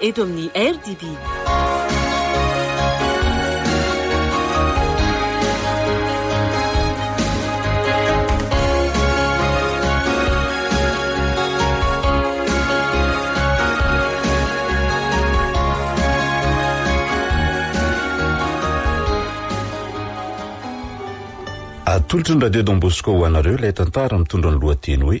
eto amin'ny RDB. Atolotry ny Radio Don Bosco ho anareo ilay tantara mitondra ny lohateny hoe.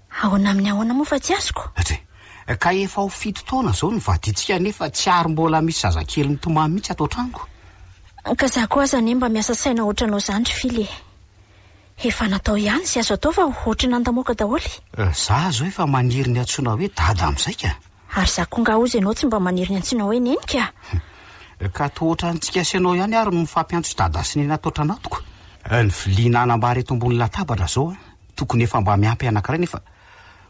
Ahoana amin'ny ahoana moa fa tsy azoko? Atri. Ka efa ho fito taona izao no vadintsika nefa tsy ary mbola misy zazakely mitomany mihitsy ato an-tranoko. Ka za koa aza anie mba miasa saina ohatranao zany ry Fily e! Efa natao ihany izay azo atao fa ohatry ny nandamoaka daholo e! Za zao efa maniry ny antsoina hoe Dada amin'izay ka! Ary za koa ngah ozy ianao tsy mba maniry ny antsoina hoe Neny ka! Ka toa ohatran'ny antsika sy anao ihany ary no mifampiantso Dada sy Neny ato an-tranatoko! Ny vilia nanambara eto ambony latabatra zao an! Tokony efa mba miampy anankiray nefa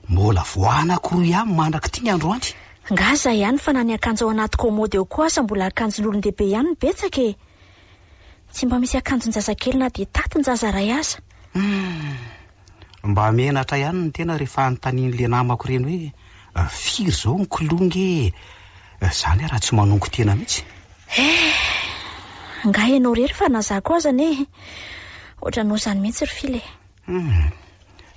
mbola vao anankiroa ihany mandrak'ity ny androany. Ngah zah ihany fa na ny akanjo ao anaty kômôdy ao koa aza mbola akanjon'olon-dehibe ihany no betsaka e! Tsy mba misy akanjon-jazakely na dia tatin-jaza iray aza. Humm! Mba menatra ihany ny tena rehefa anontanian'le namako ireny hoe firy izao ny kilonga e! Izany ary raha tsy manongo tena mihitsy. Eh! Ngah ianao irery fa na zah koa aza anie e! Ohatranao izany mihitsy ry Fila e! Hum,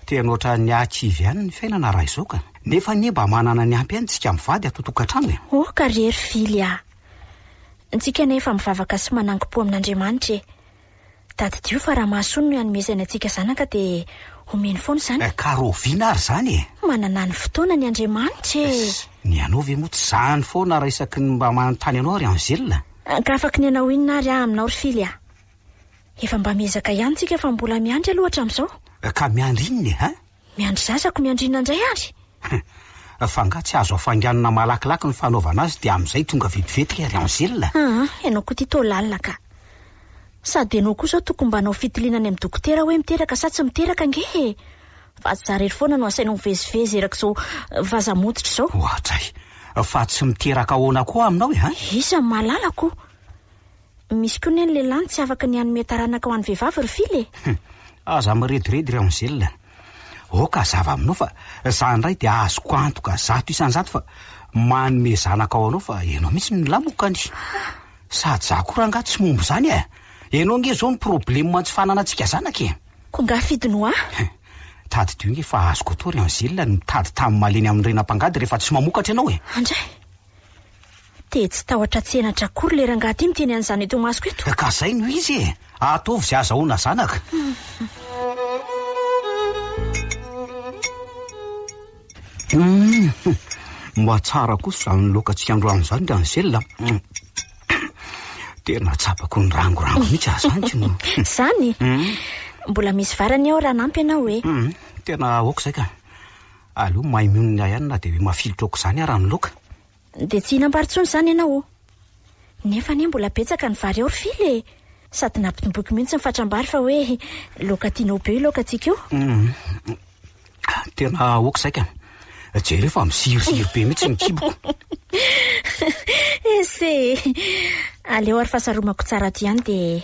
tena ohatran'ny hahakivy ihany ny fiainana raha izao ka! Nefa anie mba manana ny ampy ihany isika mivady ato tokantrano e! Oh ka ry hery fily ah! Ntsika anie efa mivavaka sy manangom-po amin'Andriamanitra e! Tadidio fa raha mahasoa no hanomezany antsika zanaka dia omeny foana izany e! Ka rahoviana ary izany e! Manana ny fotoana ny Andriamanitra e! Ess, ny anao ve moa tsy izany foana raha isaky ny mba manontany anao ry Angèle? Ka afaky ny hanao inona ary aho aminao ry fily ah! Efa mba miezaka ihany tsika fa mbola miandry aloha hatramin'izao. Ka miandry inona e hein? Miandry zazako, miandry inona indray ary? Hum, fa angaha tsy azo afainganina malakilaky ny fanaovana azy dia amin'izay tonga vetivety ry Ary Angela? Aa, ianao koa ity toa lalina ka. Sady ianao koa izao tokony mba hanao fitiliana any amin'ny dokotera hoe miteraka sa tsy miteraka ange e! Fa tsy za rery foana no asainao mivezivezy erak'izao vaza motitra izao. Oadray! Fa tsy miteraka ahoana koa aminao e hein? Iza no mahalala ko? Misy koa ne ny lehilahy no tsy afaka ny hanome taranaka ho an'ny vehivavy ry fila e! Hum, aza mirediredy ry Angèle. Aoka hazava aminao fa za indray dia azoko antoka zato isan-jato fa manome zanaka ho anao fa ianao mihitsy no nilamoka ny. Sady za koa rangaha tsy momba izany e! Ianao ange izao no problema tsy fananantsika zanaka e! Koa angaha fidy no ahy? Hum, tadidio ange fa azoko atao ry Angèle ny mitady tany malemy amin'ny rena mpangady rehefa tsy mamokatra ianao e! Andray! Te tsy tahotra tsy henatra akory le rangahy ty miteny an'izany eto imasoko eto. Ka zay no izy e! Ataovy ze azahoana zanaka. Humm! Mba tsara kosa zany loka tsy androany zany ry Angel a! Tena tsapako ny rangorango mihitsy aza zany k'ino! Zany? Mbola misy vary anie ao raha hanampy ianao e! Tena aoka zay ka! Aleo maimionona ahy ihany na dia hoe mafilotra aok'izany ara ny loka. Dia tsy hihinam-bary intsony izany ianao. Nefa anie mbola betsaka ny vary ao ry Fily e! Sady nampitomboiko mihitsy ny fatram-bary fa hoe laoka tianao be io laokantsika io. Tena aoka izay ka! Jereo fa miziriziry be mihitsy ny kiboko. Ese e! Aleo ary fasaromako tsara aty ihany dia.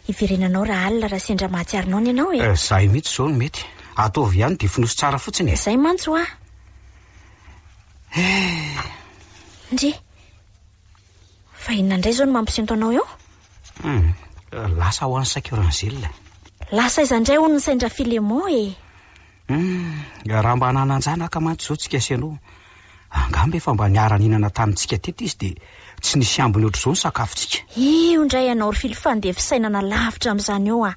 Hiverenanao raha alina raha sendra mahatsiaro noana ianao e! Eh, zay mihitsy izao no mety. Ataovy ihany dia fonoso tsara fotsiny e! Zay mantsy hoa! Eh! Ndry! Fa inona indray izao no mampisento anao eo? Hum, lasa ho any Sakiranzila. Lasa aiza indray hono ny sain-dRafilemon e! Humm, raha mba nanan-janaka mantsy izao tsika sy ianao, angamba efa mba niara-nihinana tamintsika teto izy dia tsy nisy ambiny ohatr'izao ny sakafontsika. Io indray ianao ry Fily fa ndeha fisainana lavitra amin'izany eo aho.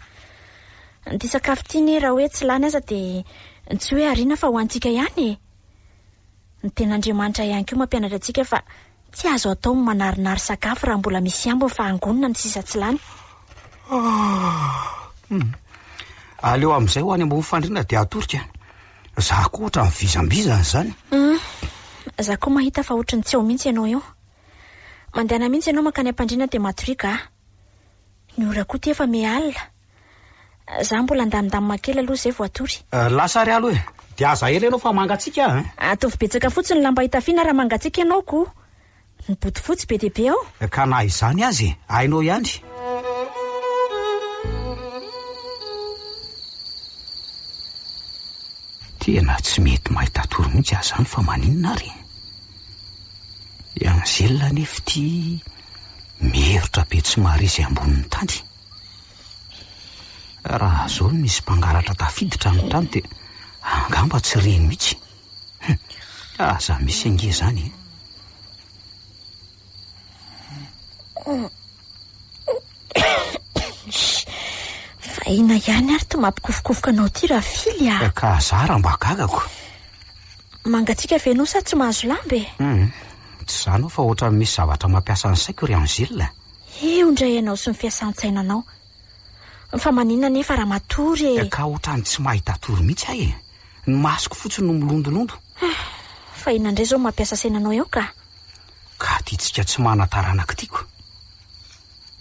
Ity sakafo ity anie raha hoe tsy lany aza dia tsy hoe ariana fa ho antsika ihany e! Ny Tenin'Andriamanitra ihany koa mampianatra antsika fa Tsy azo atao ny manarinary sakafo raha mbola misy ambiny fa hangonina ny sisa tsy lany. Aleo amin'izay ho any ambony fandriana dia atorika. Za koa ohatran'ny vizambizana izany. Hum, za koa mahita fa ohatry ny tsy ao mihitsy ianao io. Mandehana mihitsy ianao mankany am-pandriana dia matoriaka ah. Ny ora koa ity efa miha alina. Za mbola andamindamina kely aloha zay vao atory. Lasa ary alo e! Dia aza ela ianao fa mangatsiaka aho e! Ataovy betsaka fotsiny ny lamba hitafiana raha mangatsiaka ianao ko! Ny bodofotsy be dia be ao! Ka na izany aza e! Hainao ihany! Tena tsy mety mahita atory mihitsy aho izany fa maninona ary? I Angèle anefa ity miherotra be tsy mahare izay ambonin'ny tany. Raha izao no misy mpangalatra tafiditra ny trano dia angamba tsy reny mihitsy. Hum, aza misy ange izany e. Vahina ihany ary ty mampikofokofoka anao ty Rafily ah. Eh, ka zara mba gagako. Mangatsiaka ve ianao sa tsy mahazo lamba e? Hum, tsy izany aho fa ohatran'ny misy zavatra mampiasa ny saiko ry Angèle. Eo indray ianao sy ny fiasan-tsainanao. Fa maninona anefa raha matory e! Ka ohatran'ny tsy mahita hatory mihitsy aho e! Ny masoko fotsiny no milondolondo. Fa inona indray izao no mampiasa saina anao eo ka? Ka tia tsika tsy manan-taranaka tiako.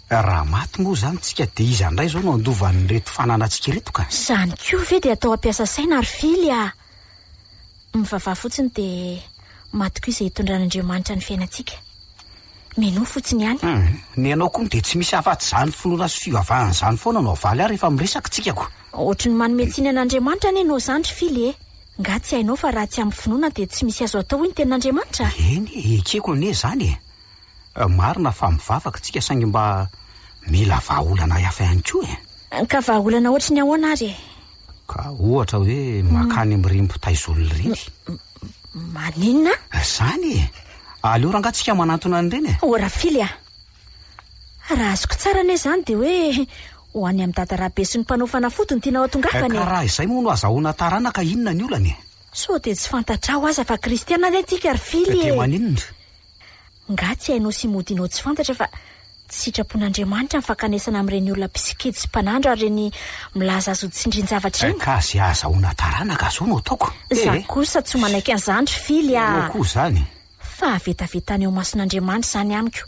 Raha maty moa izany tsika dia iza indray izao no handova an'ireto fananantsika ireto ka? Izany koa ve dia atao hampiasa saina ry Fily a! Mivavaha fotsiny dia matokia izay hitondran'Andriamanitra ny fiainantsika. Minoa fotsiny ihany. Hum, ny anao koa moa dia tsy misy afatsy izany finoana sy fivavahana izany foana no avaly ahy rehefa miresaka tsika ko. Ohatry ny manome tsiny an'Andriamanitra anie ianao izany ry Fily e! Nga tsy hainao fa raha tsy amin'ny finoana dia tsy misy azo atao hoy ny tenin'Andriamanitra? Eny, ekeko anie izany e! Marina fa mivavaka tsika saingy mba mila vahaolana hafa ihany koa e! Ka vahaolana ohatry ny ahoana ary e? Ka ohatra hoe makany amin'ireny mpitaizolona ireny. Maninona? Izany e! Aleo rangaha tsika manantona an'ireny e! O Rafily a! Raha azoko tsara anie izany dia hoe ho any amin'i Dada Rabe sy ny mpanao fanafody no tianao hatongavana e! Ka raha izay moa no azahoana taranaka inona ny olana e? Sao dia tsy fantatrao aza fa kristiana anie tsika ry Fily e! Dia maninona? Ngah tsy hainao sy modinao tsy fantatra fa tsy sitrapon'Andriamanitra ny fankanesana amin'ireny olona mpisikidy sy mpanandro ary ireny milaza azy ho tsindrin-javatra ireny? Ka izay ahazahoana taranaka izao no ataoko e! Za kosa tsy manaiky an'izany ry Fily a! Ianao koa izany! Fahavetavetana eo mason'Andriamanitra izany amiko.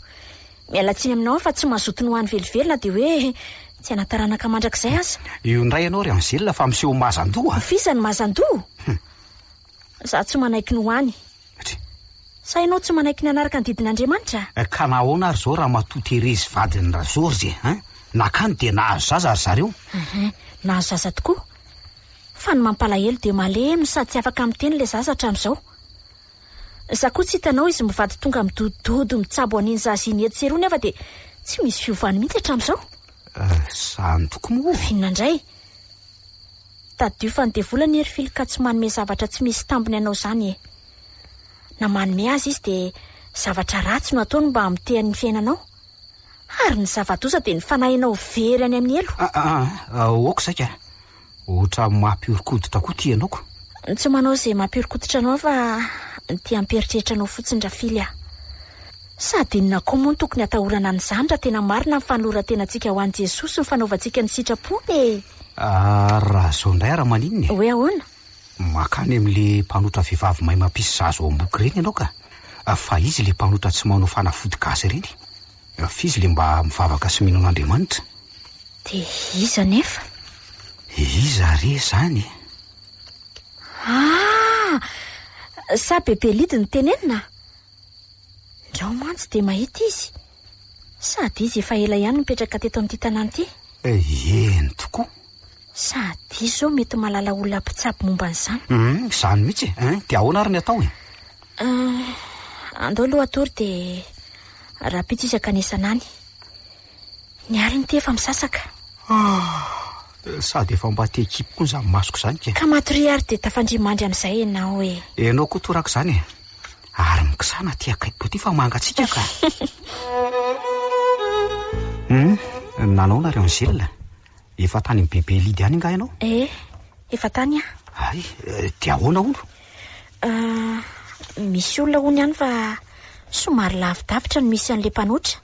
Miala tsiny aminao aho fa tsy mazoto ny ho any velively na dia hoe tsy hana-taranaka mandrakizay aza. Io indray ianao ry Angela fa miseho mazan-doha a! Ho f'iza ny mazan-doha? Hum! Za tsy manaiky ny ho any. Tsia. Sa ianao tsy manaiky ny hanaraka ny didin' Andriamanitra? Eh, ka nahoana ary zao ramatoa Therese vadin'ny ra Georges eh? Hein? Nakany dia nahazo zaza ry zareo? Ehe, nahazo zaza tokoa. Fa ny mampalahelo dia malemy no sady tsy afaka miteny ilay zaza hatramin'izao. Za koa tsy hitanao izy mivady tonga midodododo mitsabo an'iny zaza iny etsy sy eroa nefa dia tsy misy fiovany mihitsy hatramin'izao. Eh, zany tokoa moa. Inona indray? Tadidio fa ny devoly anie ry fily ka tsy manome zavatra tsy misy tambiny anao izany e! Na manome aza izy dia zavatra ratsy no ataony mba hamotehany ny fiainanao? Ary ny zava-doza dia ny fanahinao very any amin'ny helo! Ah ah ah! Aoka saika ohatra mampihorokoditra koa ity ianao ko! Tsy manao izay mampihorokoditra anao aho fa ity hampieritreritra anao fotsiny ra fily ah! Sady inona koa moa no tokony hatahorana an'izany raha tena marina ny fanoloran-tenantsika ho an'i Jesosy sy ny fanaovantsika ny sitrapony e! Ary raha izao indray ary maninona e? Hoe ahoana? Mankany amin'ilay mpanotra vehivavy mahay mampisy zaza ao am-boky ireny ianao ka! Fa iza ilay mpanotra tsy manao fanafody gasy ireny? Fa iza ilay mba mivavaka sy mino an'Andriamanitra? Dia iza anefa? Iza re izany e? Ah! Sa Bebelidy no tenenina? Izaho mantsy dia mahita izy. Sady izy efa ela ihany nipetraka teto amin'ity tanàna ity. Eny tokoa. Sady izy izao mety mahalala olona mpitsabo momba an'izany. Hum, izany mihitsy e. Hein, dia ahoana ary ny atao e? Ah, andao aloha hatory dia rahampitso isaka ny isan'any. Ny aliny ity efa misasaka. Ah, sady efa mba te hikipy koa izany masoko izany ke. Ka matoria ary dia tafandria mandry amin'izay ianao e. Ianao koa toraka izany e. Ary mikisana aty akaiky koa ity fa mangatsiaka ka. Hum, nanao nareo ny zila? Efa tany amin'ny bebe Lydia any nga ianao? Eh, efa tany aho. Ay, eh, dia ahoana hono? Ah, misy olona hono ihany fa somary lavidavitra no misy an'ilay mpanotra.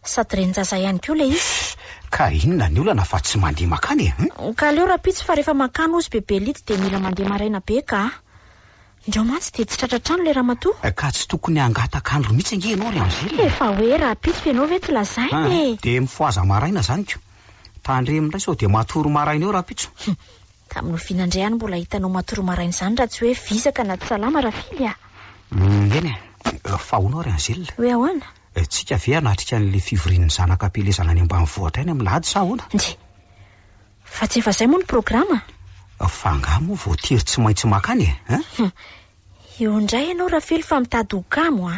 Sady renin-jaza ihany koa ilay izy. Shh! Ka inona ny olana fa tsy mandeha makany e? Hum? Ka aleo rahampitso fa rehefa makany hozy bebe Lity dia mila mandeha maraina be ka! Ndrao mantsy dia tsy tratra an-trano ilay ramatoa. Ka tsy tokony hangataka andro mihitsy ange ianao ry Angèle e! Efa hoe rahampitso ianao ve tsy lazaina e! Hum! Dia mifohaza maraina izany ko! Tandremo indray sao dia matory maraina eo rahampitso. Hum! Tamin'ny oviana indray aho no mbola hitanao matory maraina izany raha tsy hoe vizaka na tsy salama Rafily a! Hum! Eny e! Fa hono aho ry Angèle? Hoe ahoana? Tsika ve hanatrika an'ilay fivorian'ny zanaka am-pielezana any ambanivohitra any amin'ny lahady sa ahoana? Ndry! Fa tsy efa izay moa ny programa? Fa angaha moa voatery tsy maintsy mankany e? Hein? Hum! Eo indray ianao Rafely fa mitady ho kamo a!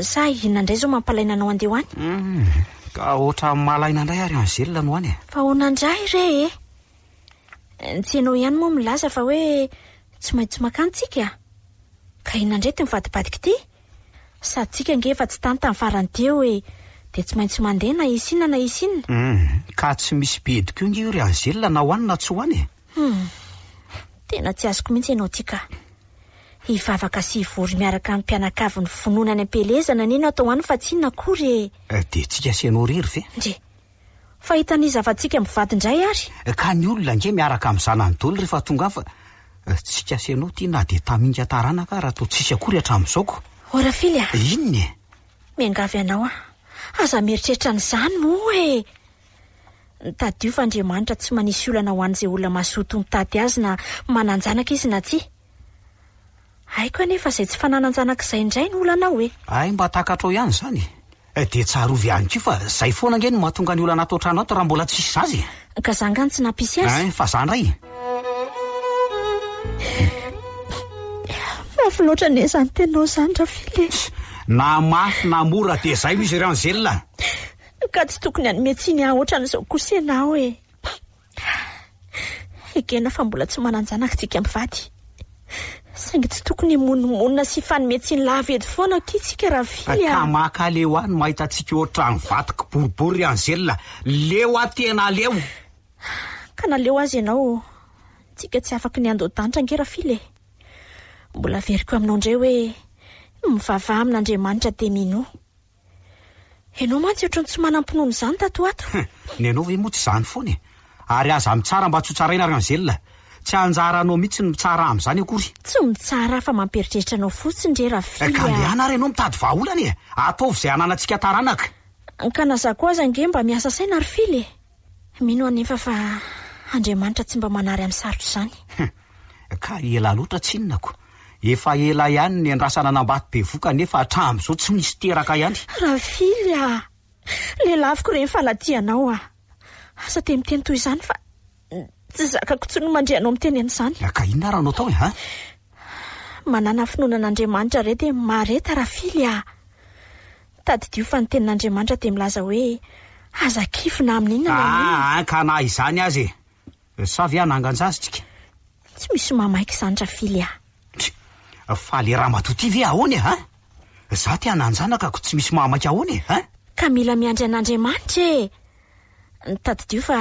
Sa inona indray izao mampalaina anao handeha ho any? Hum! Ka ohatran'ny mahalaina indray ary Angèle no any e! Fa ahoana indray re e? Tsy ianao ihany moa milaza fa hoe tsy maintsy mankany tsika? Ka inona indray ity mivadibadika ity? Satsika ange efa tsy tany tamin'ny farany teo e! Dia tsy maintsy mandeha na hisy inona na hisy inona. Hum, ka tsy misy bedy koa ange io ry Angela na ho any na tsy ho any e! Hum, tena tsy azoko mihitsy ianao ity ka! Hivavaka sy hivory miaraka amin'ny mpianakavin'ny finoana any am-pielezana anie no atao any fa tsy inona akory e! Dia tsika sy ianao irery ve? Ndry! Fahitan'iza fa tsika mivady indray ary? Ka ny olona ange miaraka amin'ny zanany doly rehefa tonga fa tsy kasy anao ity na dia taminga taranaka ara toa tsisy akory hatramin'izao ko. Oh Rafily a! Inona e? Miangavy anao aho, aza mieritreritra an'izany moa e! Tadidio fa Andriamanitra tsy manisy olana ho an'izay olona mazoto mitady Azy na manan-janaka izy na tsia. Haiko anefa izay tsy fananan-janaka izay indray no olanao e! Hay mba takatrao ihany izany e! Eh, dia tsarovy ihany koa fa izay foana ange no mahatonga ny olana ato an-trano ato raha mbola tsisy zaza e! Ka za angaha no tsy nampisy azy? Hein, fa za indray e! Mafy loatra anie izany teninao izany Rafily e! Ss, na mafy na mora dia izay no izy ry Angela! Ka tsy tokony hanome tsiny ahy ohatran'izao kosa ianao e! Ekena fa mbola tsy manan-janaka tsika mpivady, saingy tsy tokony himonomonona sy hifanome tsiny lava eto foana akia tsika ravily a! Kamaka aleo any mahita antsika ohatran'ny vato kiboribory ry Angela, leo a tena aleo! Ka naleo aza ianao ô! Tsika tsy afaky ny handoa danitra ange ravily e! Mbola averiko aminao indray hoe, mivavaha amin'Andriamanitra dia minoa. Ianao mantsy ohatran'ny tsy manam-pinoana izany tato ho ato. Hum, ny anao ve moa tsy izany foana e? Ary aza mitsara mba tsy ho tsaraina ry Angèle. Tsy anjara anao mihitsy ny mitsara amin'izany akory. Tsy mitsara aho fa mampieritreritra anao fotsiny re Rafily a! Ka andehanà ary ianao mitady vahaolana e! Ataovy izay hananantsika taranaka. Ka na za koa aza ange mba miasa saina ry Fily e! Mino anefa fa Andriamanitra tsy mba manary amin'ny sarotra izany. Hum. Ka ela loatra tsinonako. Efa ela ihany niandrasana an'Ambato bevoka nefa hatramin'izao tsy misy teraka ihany. Rafily ah! Lelaviko re ny fanadihanaao ah! Aza dia miteny toy izany fa tsy zakako intsony ny mandre anao miteny an'izany. Ka inona ary no atao e an! Manana finoana an'Andriamanitra re dia mareta Rafily ah! Tadidio fa ny tenin'Andriamanitra dia milaza hoe, Aza kivy na amin' inona na amin' inona. Aa, ka na izany aza e! Sa ve hanangan-jazintsika? Tsy misy mahamaika izany Rafily a! Try! Fa le ramatoa ty ve ahoana e hein? Za te hanan-janaka ko tsy misy mahamaika ahoana e hein? Ka mila miandry an'Andriamanitra e! Tadidio fa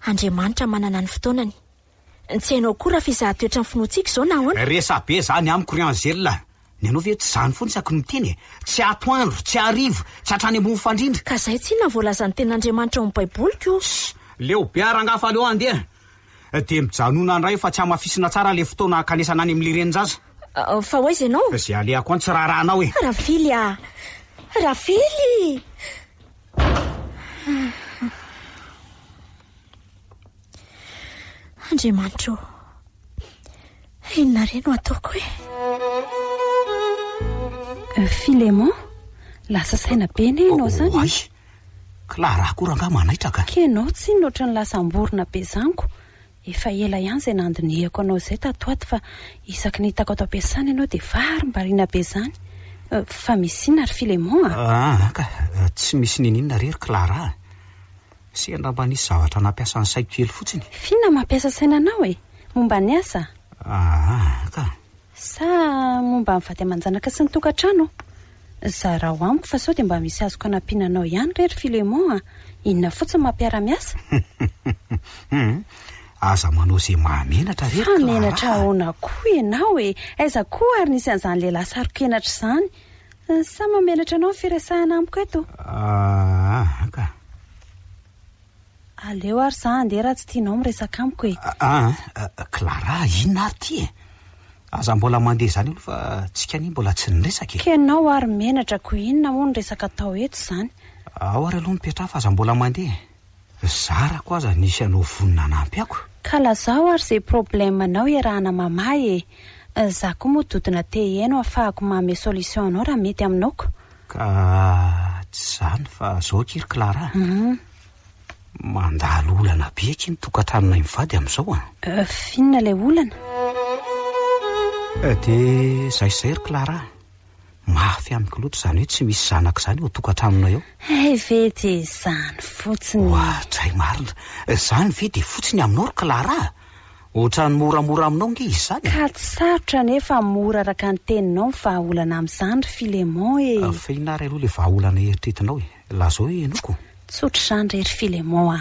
Andriamanitra manana ny fotoanany. Tsy hainao koa raha fizaha toetran'ny finoantsika izao na ahoana? Resabe zany amiko ry Angela a! Ny anao ve tsy zany foana isaky ny miteny e? Tsy atoandro, tsy hariva, tsy hatrany ambony fandrindra. Ka zay tsinona ny voalazan'ny tenin'Andriamanitra ao amin'ny baiboliko o! Ss! Leo be ah rangah fa aleo handeha dia mijanona indray fa tsy hamafisina tsara ilay fotoana hankanesana any amin'ny renin-jaza. Fa ho aiza ianao? Izay alehako any tsy raharahanao e! Ravily ah! Ravily! Andriamanitro ô, inona re no ataoko e? Euh, Filemon, lasa saina be anie ianao izany. Oay, Clara akory angaha manaitra ka. Kenao tsinona ohatran'ny lasa am-borona be izany ko. Efa ela ihany izay nandinihako anao izay tato ho ato fa isaky ny hitako ato am-piasana ianao dia varimbariana be izany. Euh, fa misy inona ry Filemon a? Ah, ka, tsy misy niniana re ry Clara a. Sy angamba nisy zavatra nampiasa ny saiko kely fotsiny. F'inona mampiasa saina anao e? Momba ny asa? Aa ka! Sa momba ny vady aman-janaka sy ny tokantrano? Zarao amiko fa sao dia mba misy azoko anampiana anao ihany re ry Philemon a! Inona fotsiny mampiara-miasa? Hum! Aza manao izay mahamenatra re ry Clara a! Fa menatra ahoana koa ianao e? Aiza koa ary nisy an'izany lehilahy saro-kenatra izany? Sa mamenatra anao ny firesahana amiko eto? Aa ka. Aleo ary za handeha raha tsy tianao miresaka amiko e. Aa, Clara, inona ary ity e? Aza mbola mandeha izany aloha fa tsika anie mbola tsy niresaka e. Ka ianao ary menatra ko inona moa ny resaka atao eto izany? Ao ary aloha mipetraha fa aza mbola mandeha e. Zarako aza nisy anao vonona hanampy ako. Ka lazao ary ze problème anao iarahana mamaha e! Za koa moa dodona te hihaino afahako maome solution anao raha mety aminao ko! Ka tsy zany fa zao akia ry Clara a! Mandalo olana be akia ny tokantranonay mivady amizao an! F'inona ilay olana? Dia zay sy zay ry Clara a! Mafy amiko loatra izany hoe tsy misy zanaka izany eo an-tokantranonay ao. Hay ve dia izany fotsiny e! Oadray marina! Izany ve dia fotsy ny aminao ry Clara? Ohatran'ny moramora aminao ange izy izany e! Ka tsy sarotra anie fa mora araka ny teninao ny vahaolana amin'izany ry Philémon e! Afenina ary aloha ilay vahaolana eritretinao e! Lazao hoe henoiko! Tsotra izany re ry Philémon a!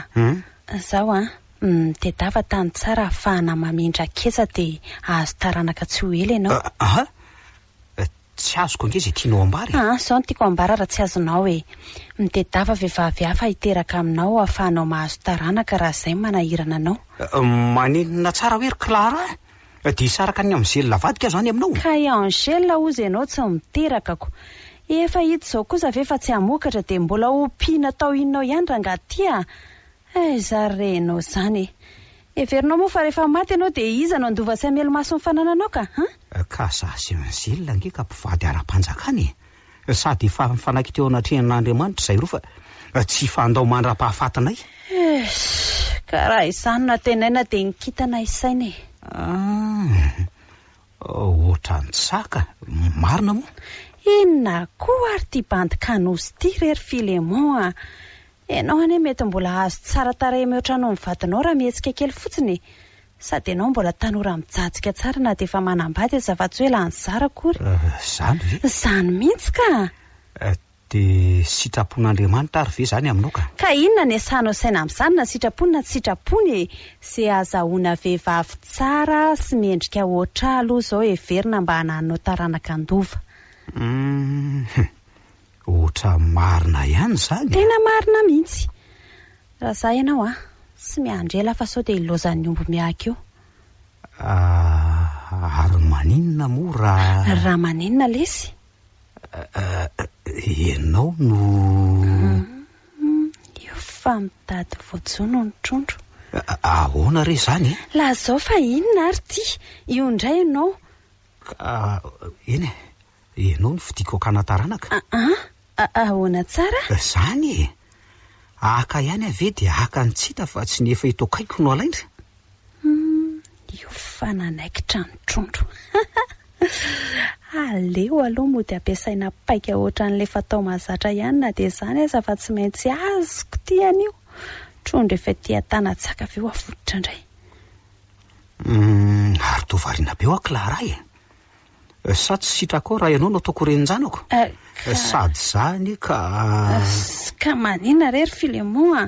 Izao an! Mitedava tany tsara ahafahana mamindra ketsa dia hahazo taranaka tsy ho ela ianao. Aa! Tsy azoko ange izay tianao ambara e! Aa, zao no tiako ambara raha tsy azonao e! Mitedava vehivavy hafa hiteraka aminao hahafahanao mahazo taranaka raha izay manahirana anao. Manenina tsara hoe ry Clara a! Dia hisaraka an'i Angèle avadika aho izany aminao? Ka i Angèle hozy ianao tsy miterakako! Efa hita izao kosa ve fa tsy hamokatra dia mbola hompiana tao inona ao ihany rangahy ty a! Hay zary re enao zany e! Heverinao moa fa rehefa maty enao dia iza no handova sy hamely maso ny fanananao ka an? Ka za sy Angèle ange ka mpivady ara-panjakana e! Sady efa nifanaiky teo anatrehan'Andriamanitra izay roa fa tsy hifandao mandra-pahafatinay. Eish! Ka raha izany no antenaina dia ny kintana isaina e! An! Ohatran'ny saka, marina moa. Inona koa ary ity bandy Kanosy ity re ry Philemon a! Ianao anie mety mbola hahazo tsara tarehy mihoatra anao ny vadinao raha mihetsika kely fotsiny e! Sady ianao mbola tanora mijajika tsara na dia efa manambady aza fa tsy hoe lany zara akory. Izany ve? Izany mihitsy ka! Dia sitrapon'Andriamanitra ary ve izany aminao ka? Ka inona ny asanao saina amin'izany na sitrapony na tsy sitrapony e! Ze azahoana vehivavy tsara sy mendrika hoatr'ahy aloha izao heverina mba hananinao taranaka handova. Hum! Ohatra marina ihany izany a! Tena marina mihitsy! Raha za ianao an! Tsy miandry ela fa sao dia hilaozan'ny omby miahaka eo. Ahh! Ary maninona moa raha. Raha maninona lesy? Ianao no. Io fa mitady voajono ny trondro. Ahoana re izany e? Lazao fa inona ary ity? Io indray ianao. Ka, eny e, ianao no fidiko hakana taranaka. Aa, ahoana tsara? Izany e! Haka ihany aho ve dia haka ny tsy hita fa tsy ny efa eto akaiky no halaina? Humm io fa nanaikitra ny trondro aleo aloha mody ampiasaina paika ohatran'ilay fatao mahazatra ihany na dia izany aza fa tsy maintsy azoko ity anio trondro efa ety an-tanatsaka avy eo avototra indray. Humm ary toa variana be ho'a Clara e! Sa tsy sitrakao raha ianao no ataoko renin-janako? Sady izany ka. Ka manina re ry Filemon a!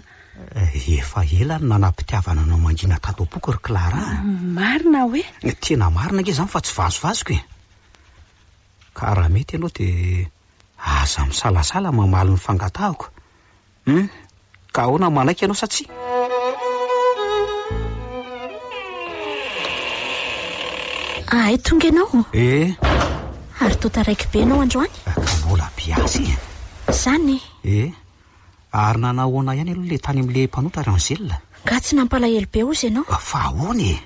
Efa ela no nanam-pitiavana anao mangina tato am-poko ry Clara a! Marina hoe? Tena marina ange izany fa tsy vazovazoko e! Ka raha mety ianao dia aza misalasala mamaly ny fangatahako Hum, ka ahoana manaiky ianao sa tsia? Ahay tonga ianao? Eh! Ary toa taraiky be ianao androany? Ka mbola biasy e! Izany e! Eh! Ary nanao ahoana ihany aloha ilay tany amin'ilay mpanotra ry Angèle? Nga tsy nampalahelo be hozy ianao? Fa ahoana e!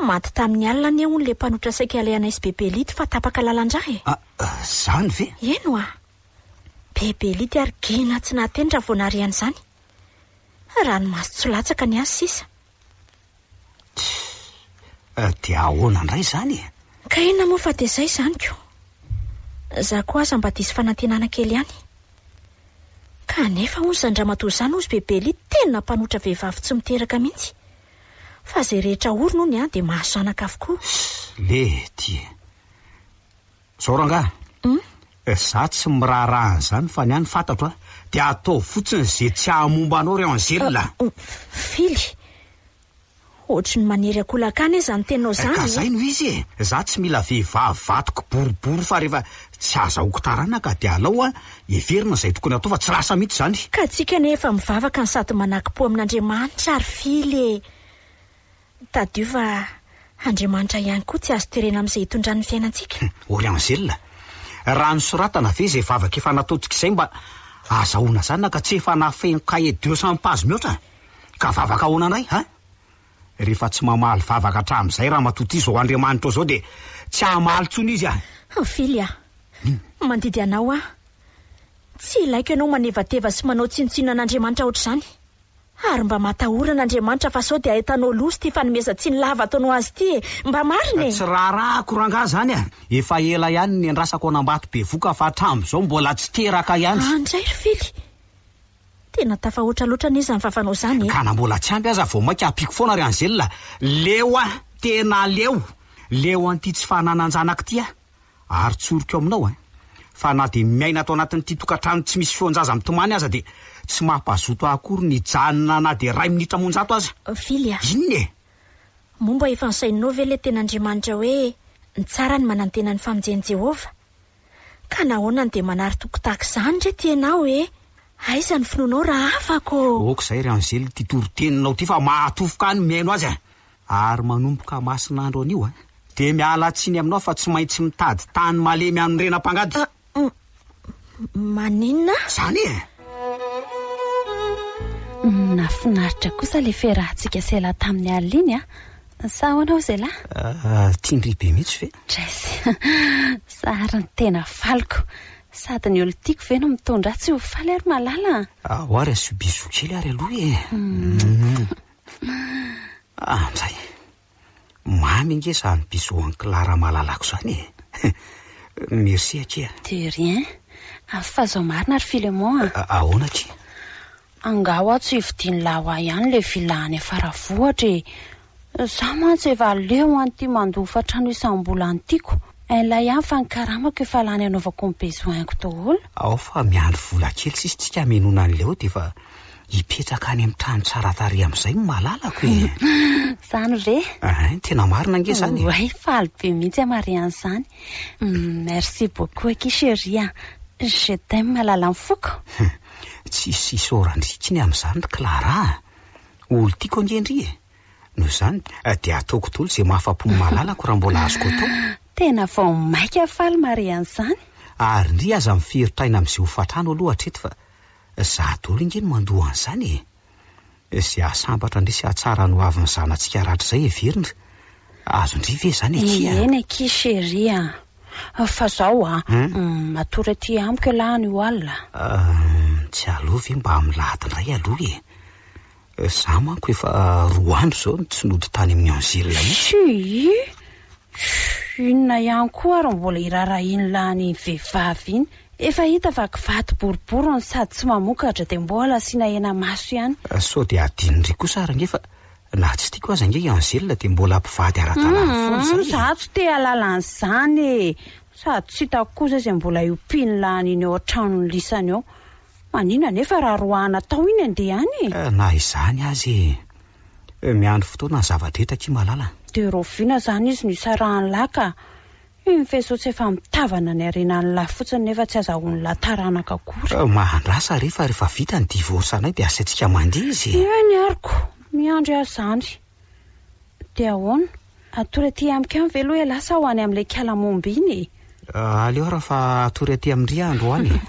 Maty tamin'ny alina anie hono ilay mpanotra saika alehanay sy Bebe Lito fa tapaka lalan-drà e! Ah, izany ve? Eny hoa! Be belity ary gina tsy nahateny raha vao nahare an'izany. Ranomaso tsy latsaka ny azy sisa. Tsia, dia ahoana indray izany e? Ka inona moa fa dia izay izany ko. Za koa aza mba diso fanantenana kely ihany. Kanefa hono izany ramatoa izany hozy be belity tena mpanotra vehivavy tsy miteraka mihitsy. Fa izay rehetra orina hono dia mahazo zanaka avokoa. Lety e! Zao rangahy a, za tsy miraharaha an'izany fa ny ahy ny fantatro a, dia ataovy fotsiny ze tsy hahamomba anao ry Angèle a! Fily, ohatry ny manery akolaka ahy anie zany teninao zany e! Ka zay no izy e! Za tsy mila vehivavy vadiko boribory fa rehefa tsy azahoako taranaka dia alao a, heverina izay tokony atao fa tsy lasa mihitsy izany. Ka tsika anie efa mivavaka no sady manakim-po amin'Andriamanitra ry Fily e! Tadidio fa Andriamanitra ihany koa tsy azo terena amin'izay itondrany ny fiainantsika. Ory Anzela, raha nosoratana ve izay vavaka efa nataontsika izay mba azahoana zanaka tsy efa nafeno cahier de sans page mihoatra an? Ka vavaka ahoana indray ha? Rehefa tsy mamaly vavaka hatramin'izay ramatoa ity izao Andriamanitra izao dia tsy hamaly intsony izy an! Fily a! Mandidy anao aho. Tsy ilaiko ianao manevateva sy manao tsinontsinona an'Andriamanitra ohatr'izany. Ary mba matahorana Andriamanitra fa sao dia ahitanao loza ity fanomezan-tsiny lava ataony ho azy ity e! Mba marina e! Tsy raharahako rangah zany a! Efa ela ihany no niandrasako an'Ambato bevoka fa hatram'izao mbola tsy teraka ihany! An dray ry Fily! Tena tafahoatra loatra anie zany vavanao zany e! Ka na mbola tsy ampy aza vao mainka ampiako foana ry Angela! Leo a! Tena leo! Leo an'ity tsy fananan-janaka ity a! ary tsoriko aminao an, fa na dia miaina ato anatin'ity tokantrano tsy misy feon-jaza mitomany aza dia tsy mampazoto ahy akory ny hijanona na dia iray minitra amonjato aza. Vily a! Inona e? Moa mba efa nosainao ve ilay tena Andriamanitra hoe ny tsara ny manantena ny famonjen'i Jehovah? Ka nahoana no dia manary toky tahaka izany re ty ianao e? Aiza ny finoanao raha afaka ô? Aoka izay ry Anzely ity toriteninao ity fa mahatofoka ahy ny mihaino azy an! Ary manomboka masina andro anio a! Dia miala tsiny aminao fa tsy maintsy mitady tany malemy hanorena mpangady. Ah, maninona? Zany e! Nafinaritra kosa le fiarahantsika sela tamin'i Aline a! Sa ahoana hoy Zela? Ah, tian-dry be mihitsy ve? Jess, zary ny tena faliko. Sady ny olo tiako ve no mitondra ahy tsy ho faly ary malala a! Ahoa ary asio bisous kely ary aloha e! Ah, mizay! Mamy ange izany bisous an'i Clara malalako izany e! Merci akia a! De rien! Fa zao marina ry Philemon a! Ahoana akia? Angaha hoa tsy hividian'lah hoa ihany le villa any Faravohitra e! Za mantsy efa leo an'ity mandofa trano isam-bola an'tiako, inlah ihany fa ny karamako efa lany anaovako ny besoin-ko daholo. Ao fa miandry vola kely sisa tsika hamenoana an'ilay hody efa. Hipetraka any amin'ny trano tsara tarehy amin'izay ny malalako e! Izany ve? Hein, tena marina ange izany e! Oay, faly be mihitsy aho mahare an'izany. Merci beaucoup akia chérie a! Je t'aime malalan'ny foko. Hum, tsisy isaorana intsony amin'izany ry Clara a! Olon-tiako ange ndry e! Noho izany dia ataoko daholo izay mahafa-po ny malalako raha mbola azoko atao. Tena vao mainka faly mahare an'izany. Ary ndry aza miferotra aina amin'izay hofantrano aloha hatreto fa Za dolo nge no mandoa an'zany e! Ze hahasambatra ndry sy hahatsara ny hoavin'ny zanatsika ratrizay heverindry, azondry ve zany akia a! Eny akia chérie a! Fa zao a! Matory aty amiko elah anio alina! Tsy aleo ve mba milahady ndray aloha e! Za manko efa roa andro zao no tsy nody tany amin'ny Anzila mihitsy. Shuii! Shuh! Inona ihany koa ary no mbola irarahin'i lany iny vehivavy iny? Efa hita fa kivato boribory no sady tsy mamokatra dia mbola asiana hena maso ihany. Sao dia adinony ry kosa ary ange fa na tsy tiako aza ange i Anzila dia mbola mpivady ara-dalàna foana izay e! Za tsy te hahalala an'izany e! Sady tsy hitako kosa izay mbola hiompian'i lany iny ao an-tranon'i lisany ao. Maninona anefa raha roahana tao iny andeha any e? Eh, na izany aza e! Eh, miandry fotoana ny zava-drehetra akia malala. Dia raoviana izany izy no isarahan'i Lah ka! Iny faisceau tsy efa mitavana ny harenan'i Lah fotsiny nefa tsy azahoan'i Lah taranaka akory. Eh, mahandrasa re fa rehefa vita ny divorce-nay dia asaintsika mandihy izy e! Eny aroko, miandry ahy izany. Dia ahoana? Hatory aty amiko any ve aloha ialahy sa ho any amin'ilay kalamomba iny e? Aleo ary fa hatory aty amin-dry aho androany e!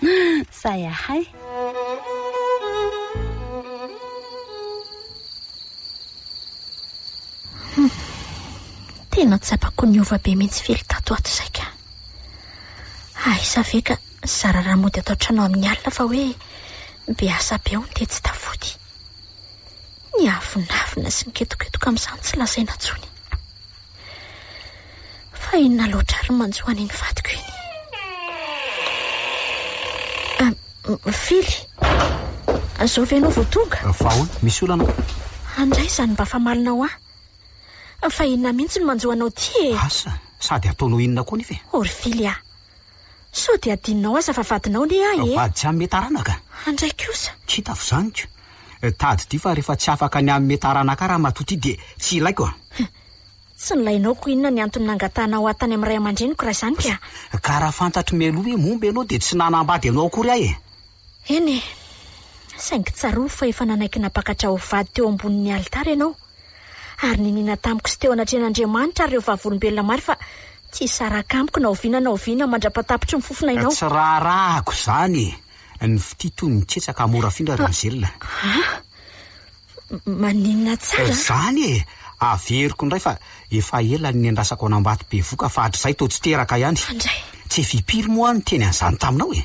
Sahy ahay! Hum. Tena tsapako niova be mihitsy Fily tato ato izay ka. Aiza ve ka zara raha mody ato an-trano amin'ny alina fa hoe be asa be hono dia tsy tafody. Ny avonavona sy miketoketoka amin'izany tsy lazaina intsony. Fa inona loatra ary no manjo an'iny vadiko iny? Mifily. Zao ve ianao vao tonga? Fa ahoana? Misy olana? Andray izany mba famalina ho ahy. Fa inona mihitsy no manjo anao ity e? Asa, sady ataonao inona koa nefa e? Orfilia. Sao dia adinonao aza fa vadinao anie ahy e! Vady tsy hanome taranaka? Andray kosa! Tsy hitako izany ko! Tadidio fa rehefa tsy afaka ny hanome taranaka ahy ramatoa ity dia tsy ilaiko a! Tsy nilainao ko inona ny antony nangatahanao ahy tany amin'ny ray aman-dreniko raha izany ka? Ka raha fantatro mialoha hoe momba ianao dia tsy nanambady anao akory aho e! Eny e! Saingy tsarovy fa efa nanaiky nampakatra ho vady teo ambonin'ny alitara ianao, ary niniana tamiko sy teo anatrehan'Andriamanitra ary ireo vavolombelona maro fa tsy hisaraka amiko na oviana na oviana mandra-patapitry ny fofon'ainao. Tsy raharahako izany e! Ny fitia toy ny tsetsaka mora afindra ry Angèle. Ah! Maninona tsara? Izany e! Averiko indray fa efa ela no niandrasako an'Ambatobevoka fa hatrizay toa tsy teraka ihany. Fandray! Tsy fipiry moa aho niteny an'izany taminao e!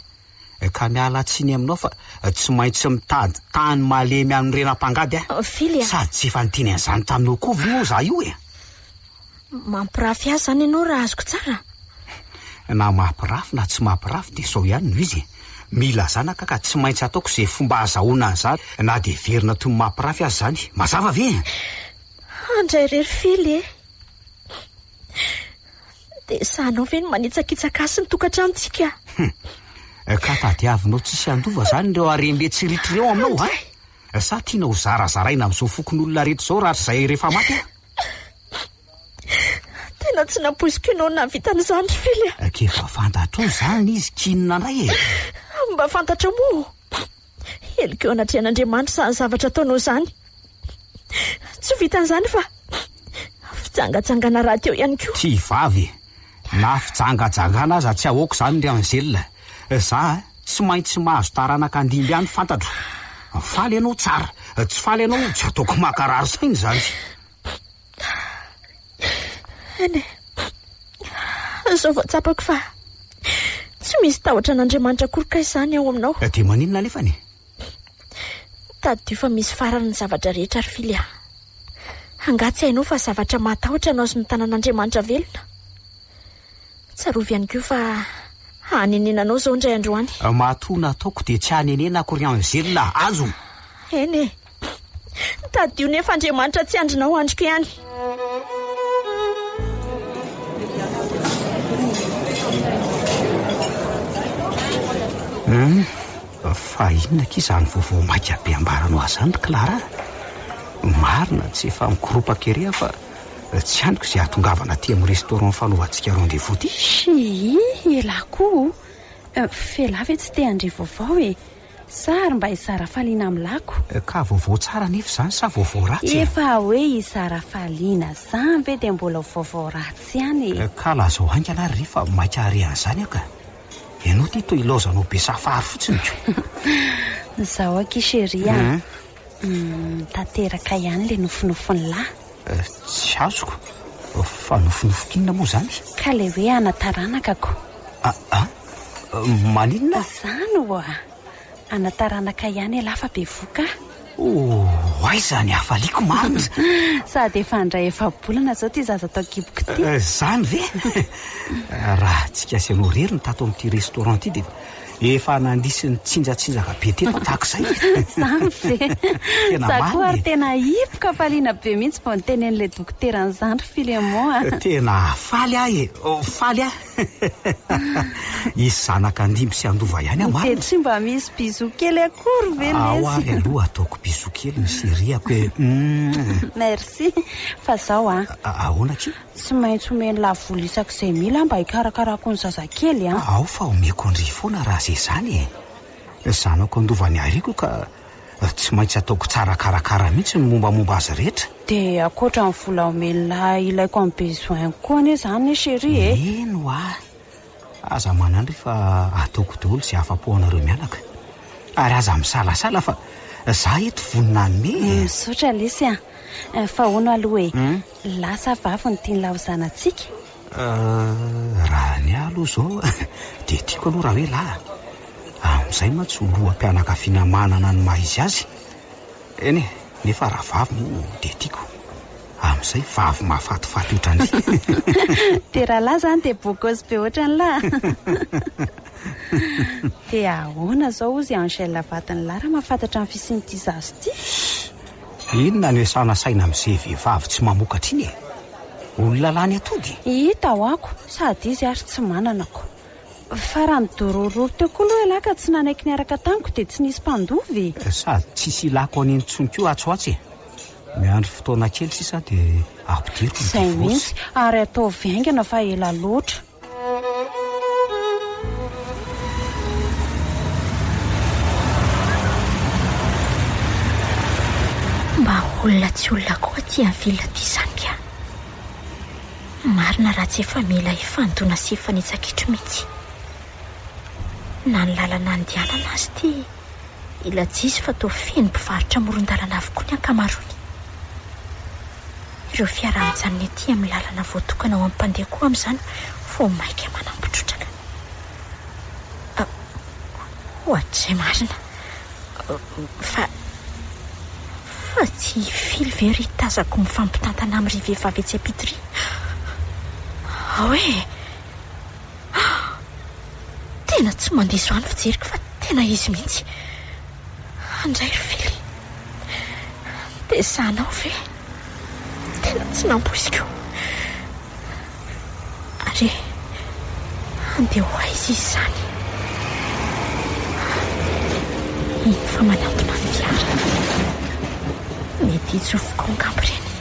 ka miala tsiny aminao fa tsy maintsy mitady tany malemy any rena mpangady a! Fily a! Sady tsy efa niteny an'izany taminao koa ve moa izaho io e? Mampirafy ahy izany ianao raha azoko tsara? Na mampirafy na tsy mampirafy dia sao ihany no izy e! Mila zanaka ka tsy maintsy ataoko izay fomba azahoana an'izany na dia heverina toy ny mampirafy aza izany. Mazava ve e? Handray irery Fily e! Dia sahanao ve ny manitsakitsaka ahy sy ny tokantranontsika? Humm! Ka tadiavinao tsisy handova izany ireo harem-be tsy ritra ireo aminao va? Sa tiana ho zarazaraina amin'izao fokonolona rehetra izao rahatrizay rehefa maty aho? Tena tsy nampoiziko ianao nahavita an'izany ry Fily a! K'efa fantatrao izany izy, k'inona indray e? Mba fantatrao moa! Heloka eo anatrehan'Andriamanitra izany zavatra ataonao izany. Tsy ho vitan'izany fa fijangajangana rahateo ihany koa. Ty vavy e! Na fijangajangana aza tsy ahoako izany ry Angèle. Za tsy maintsy mahazo taranaka andimby any fantatro. Faly ianao, tsara. Tsy faly ianao, tsy ataoko mankarary saina izany. Eny e, izao vao tsapako fa tsy misy tahotra an'Andriamanitra akory kay izany aho aminao. Dia maninona anefany e? Tadidio fa misy farany ny zavatra rehetra ry Fily a! Angaha tsy hainao fa zavatra mahatahotra anao sy ny tanan'Andriamanitra velona? Tsarovy ihany koa fa hanenena anao izao indray andro any. Matoa nataoko dia tsy hanenena akory angelina azo! Eny e! Tadidio nefa Andriamanitra tsy handrina ho andriko ihany. Hmm, fa inona aky izany vaovao maika be ambaranao azy izany ry Clara? Marina tsy efa mikoropaka ery aho fa tsy aniko izay hahatongavana aty amin'ny restaurant fanaovantsika rendez-vous ity. Shii, elah koa o! F'elah ve tsy te handre vaovao e! Sa ary mba i Sarafaliana amin'ny lako? Ka vaovao tsara anefa izany sa vaovao ratsy e? Efa hoe i Sarafaliana izany ve dia mbola vaovao ratsy ihany e? Ka lazao haingana ary re fa maika hare an'izany aho ka! Ianao ity toa ilaozanao be safary fotsiny ko! Izao akia chérie a! Tanteraka ihany ilay nofinofin'lah. Tsy azoko fa nofinofin'inona moa izany? Ka ilay hoe ana taranaka ko. Aa maninona? Izany oa! Ana taranaka ihany elah fa bevoka ah. Oh aiza ny hafaliako marina? Sady efa handray efa-bolana izao ity zaza tao an-kiboko ity. Izany ve? Raha tsy kiasy anao irery ny tato amin'ity restaurant ity dia. Efa nandrisy ny tsinjatsinjaka be teto tahaka izay e! Izany ve? Tena Za koa ary tena hipoka hafaliana be mihitsy vao nitenenin'ilay dokotera an'izany ry Philemon a! Tena faly aho e! Faly aho! Hisy zanaka handimby sy handova ihany aho marina e! Dia tsy mba misy bisous kely akory ve lesy? Ao ary aloha ataoko bisous kely ny chérie-ako e! Merci! Fa zao an! Ahoana akia? Tsy maintsy omeny lavoly isak'izay mila mba hikarakarako ny zazakely an! Ao fa omeko an-dry foana raha ze zany e! Zanako andovany ariako ka tsy maintsy ataoko tsara karakara mihitsy ny mombamomba azy rehetra. Dia ankoatra ny vola omen'la ilaiko amin'ny besoin-ko koa anie zany e chérie e! Eny wa! Aza manandry fa ataoko daholo ze afa-po anareo mianaka. Ary aza misalasala fa za eto vonona hanome e! Misaotra lesy an! Fa hono aloha e! Lasa vavy ny tian'ilay ho zanatsika? Euh, raha ny ahy aloha izao dia tiako aloha raha hoe lahy, amin'izay mantsy ho loham-pianakaviana manana ny maha izy azy. Eny e, nefa raha vavy moa dia tiako, amin'izay vavy mahafatifaty ohatran'ny. Dia raha lahy izany dia bokos be ohatran'ny lahy. Dia ahoana izao hozy i Angèle vadin'i lahy raha mahafantatra ny fisian'ity zaza ity? Inona no esana saina amze vevavy tsy mamokatra iny e? Olona lany atody. Hita ho ako sady izy ary tsy manana ko. Fa raha nidorororo teo koa loha ialahy ka tsy nanaiky niaraka tamiko dia tsy nisy mpandova e! Sady tsisy ilako an'iny intsony koa atsy ho atsy e! Miandry fotoana kely sisa dia ampidiriko ny divorce. Zay mihitsy, ary ataovy haingana fa ela loatra. Mba olona tsy olona koa ty an ville ty zany ka. Marina raha tsy efa mila hifandona sy hifanitsakitro mitsy. Na ny lalana andianana azy ty. i Lajisy fa toa feno mpivarotra amoron-dalana avokoa ny ankamaroany. Ireo fiara mijanona ety amin'ny lalana voatokana ho an'ny mpandeha koa amin'izany vao mainka manambo trotraka. Ah, ohatr'izay marina. Fa, fa tsy i Fily ve ry tazako mifampitantana amin'ry vehivavy etsy am-pitoria? Ao e! Ah! Tena tsy mandiso ahy ny fijeriko fa tena izy mihitsy. Andray ry Fily. Dia sahanao ve? Tena tsy nampoiziko. Ary handeha ho aiza izy izany? Ah! Iny fa manantona ny fiara. Mety hitsofoko ao angamba ireny.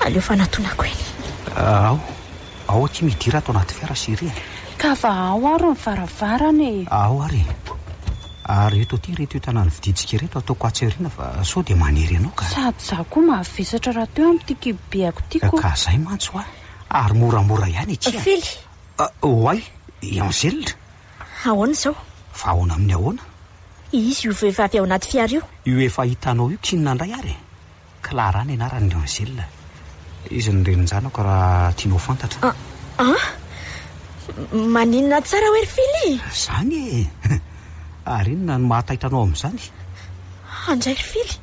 Aleo fanatonako eny. Ao. Ao akia midira ato anaty fiara sy ery e. Ka va ao ary ny varavarana e. Ao ary e. Ary eto aty ireto entana novidintsika ireto ataoko atsy aoriana fa sao dia manery anao ka. Sady za koa mavesatra rahateo amin'ity kibobeako ity ko. Ka zay mantsy hoa. Ary moramora ihany akia. Fily. Oay, i Angèle. Ahoana izao? Fa ahoana amin'ny ahoana? Izy io vehivavy ao anaty fiara io. Io efa hitanao io k'inona indray ary e. Clara ny anarany ry Angèle. Izy no renin-janako raha tianao fantatra. An? Maninona tsara hoe ry Fily? Izany e! Ary inona no mahataitra anao amin'izany? Andray ry Fily.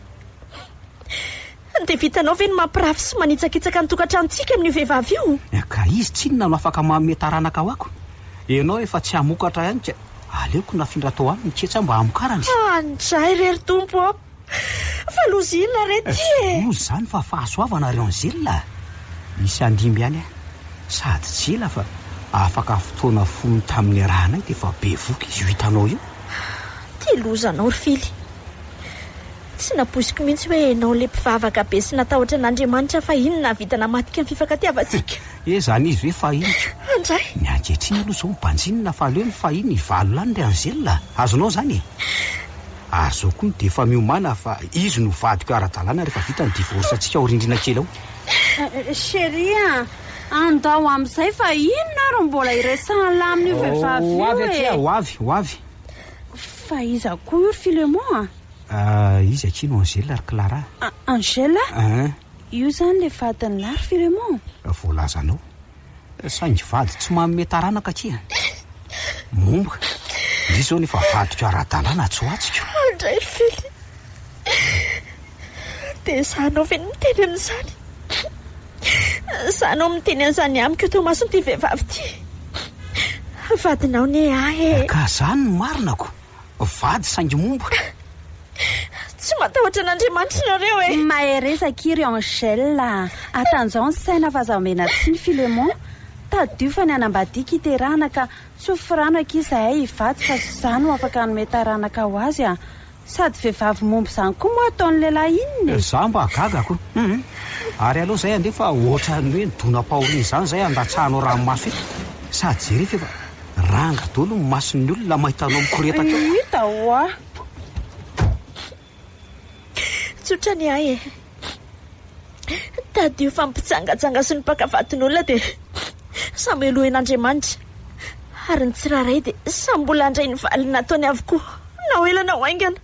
Dia vitanao ve ny mampirafy sy manitsakitsaka ny tokantranontsika amin'io vehivavy io? Ka izy tsinona no afaka manome taranaka ho ako? Ianao efa tsy hamokatra ihany ka aleoko nafindra tao aminy ketsy aho mba hamokarany. Andray re ry Tompo ô! Fa loza inona re ty e? Tsy loza izany fa fahasoavana ry Angela a! Nisy handimby ihany aho, sady tsy ela fa afaka fotoana fohy tamin'ny niarahanay dia efa bevohoka izy io hitanao io. Tia loza anao ry Fily. Tsy nampoiziko mihitsy hoe ianao ilay mpivavaka be sy natahotra an'Andriamanitra fahiny nahavita namadika ny fifankatia-vantsika. He, izany izy hoe fahiny ka! Andray! Ny ankehitriny aloha izao mibanjinina fa aleo ny fahiny hivalo lany ry Angela a! Azonao izany e? Ary zao koa dia efa miomana fa izy no vadiko ara-dalàna rehefa vita ny divorce antsika ao rindrina kely ao. Chérie a! Andao amin'izay fa inona ary mbola hiresahan'lah amin'io vehivavy io e! Ho avy akia, ho avy, ho avy. Fa iza koa io ry Philemon a? Ah, izy akia no Angèle ry Clara a. Angèle? Ah. Io izany ilay vadin'lah ry Philemon? Voalazanao. Saingy vady tsy manome taranaka akia. Momba, misy izao nefa vadiko ara-dalàna atsoatsiko. Andray Fely, dia izaho anao ve no miteny an'izany? Izaho no miteny an'izany amiko eto imason'ity vehivavy ity. Vadinao anie aho e! Ka izany no marinako? vady saingy momba. Tsy matahotra an'Andriamanitra nareo e! Mahereza akia ry Angèle a! Atanjao ny saina fa aza omena tsiny Philémon! Tadidio fa ny hanambadiako hiterahana ka tsy ho firano akia izahay hivady fa tsy izaho no afaka hanome taranaka ho azy a! Sady vehivavy momba izany koa moa ataon'ny lehilahy inona e! Za mba gaga ko! Hum! Ary aleo izay andeha fa ohatran'ny hoe ny donam-pahoriana izany izay andatsahanao ranomaso iny! Sady jereo fa efa. Ranga daholo ny mason'ny olona mahita anao mikoretaka eo. Hita hoa. Tsotra ny ahy e. Tadidio fa ny mpijangajanga sy ny mpaka vadin'olona dia samy helohin'Andriamanitra ary ny tsirairay dia samy mbola handray ny valiny nataony avokoa na ho ela na ho haingana.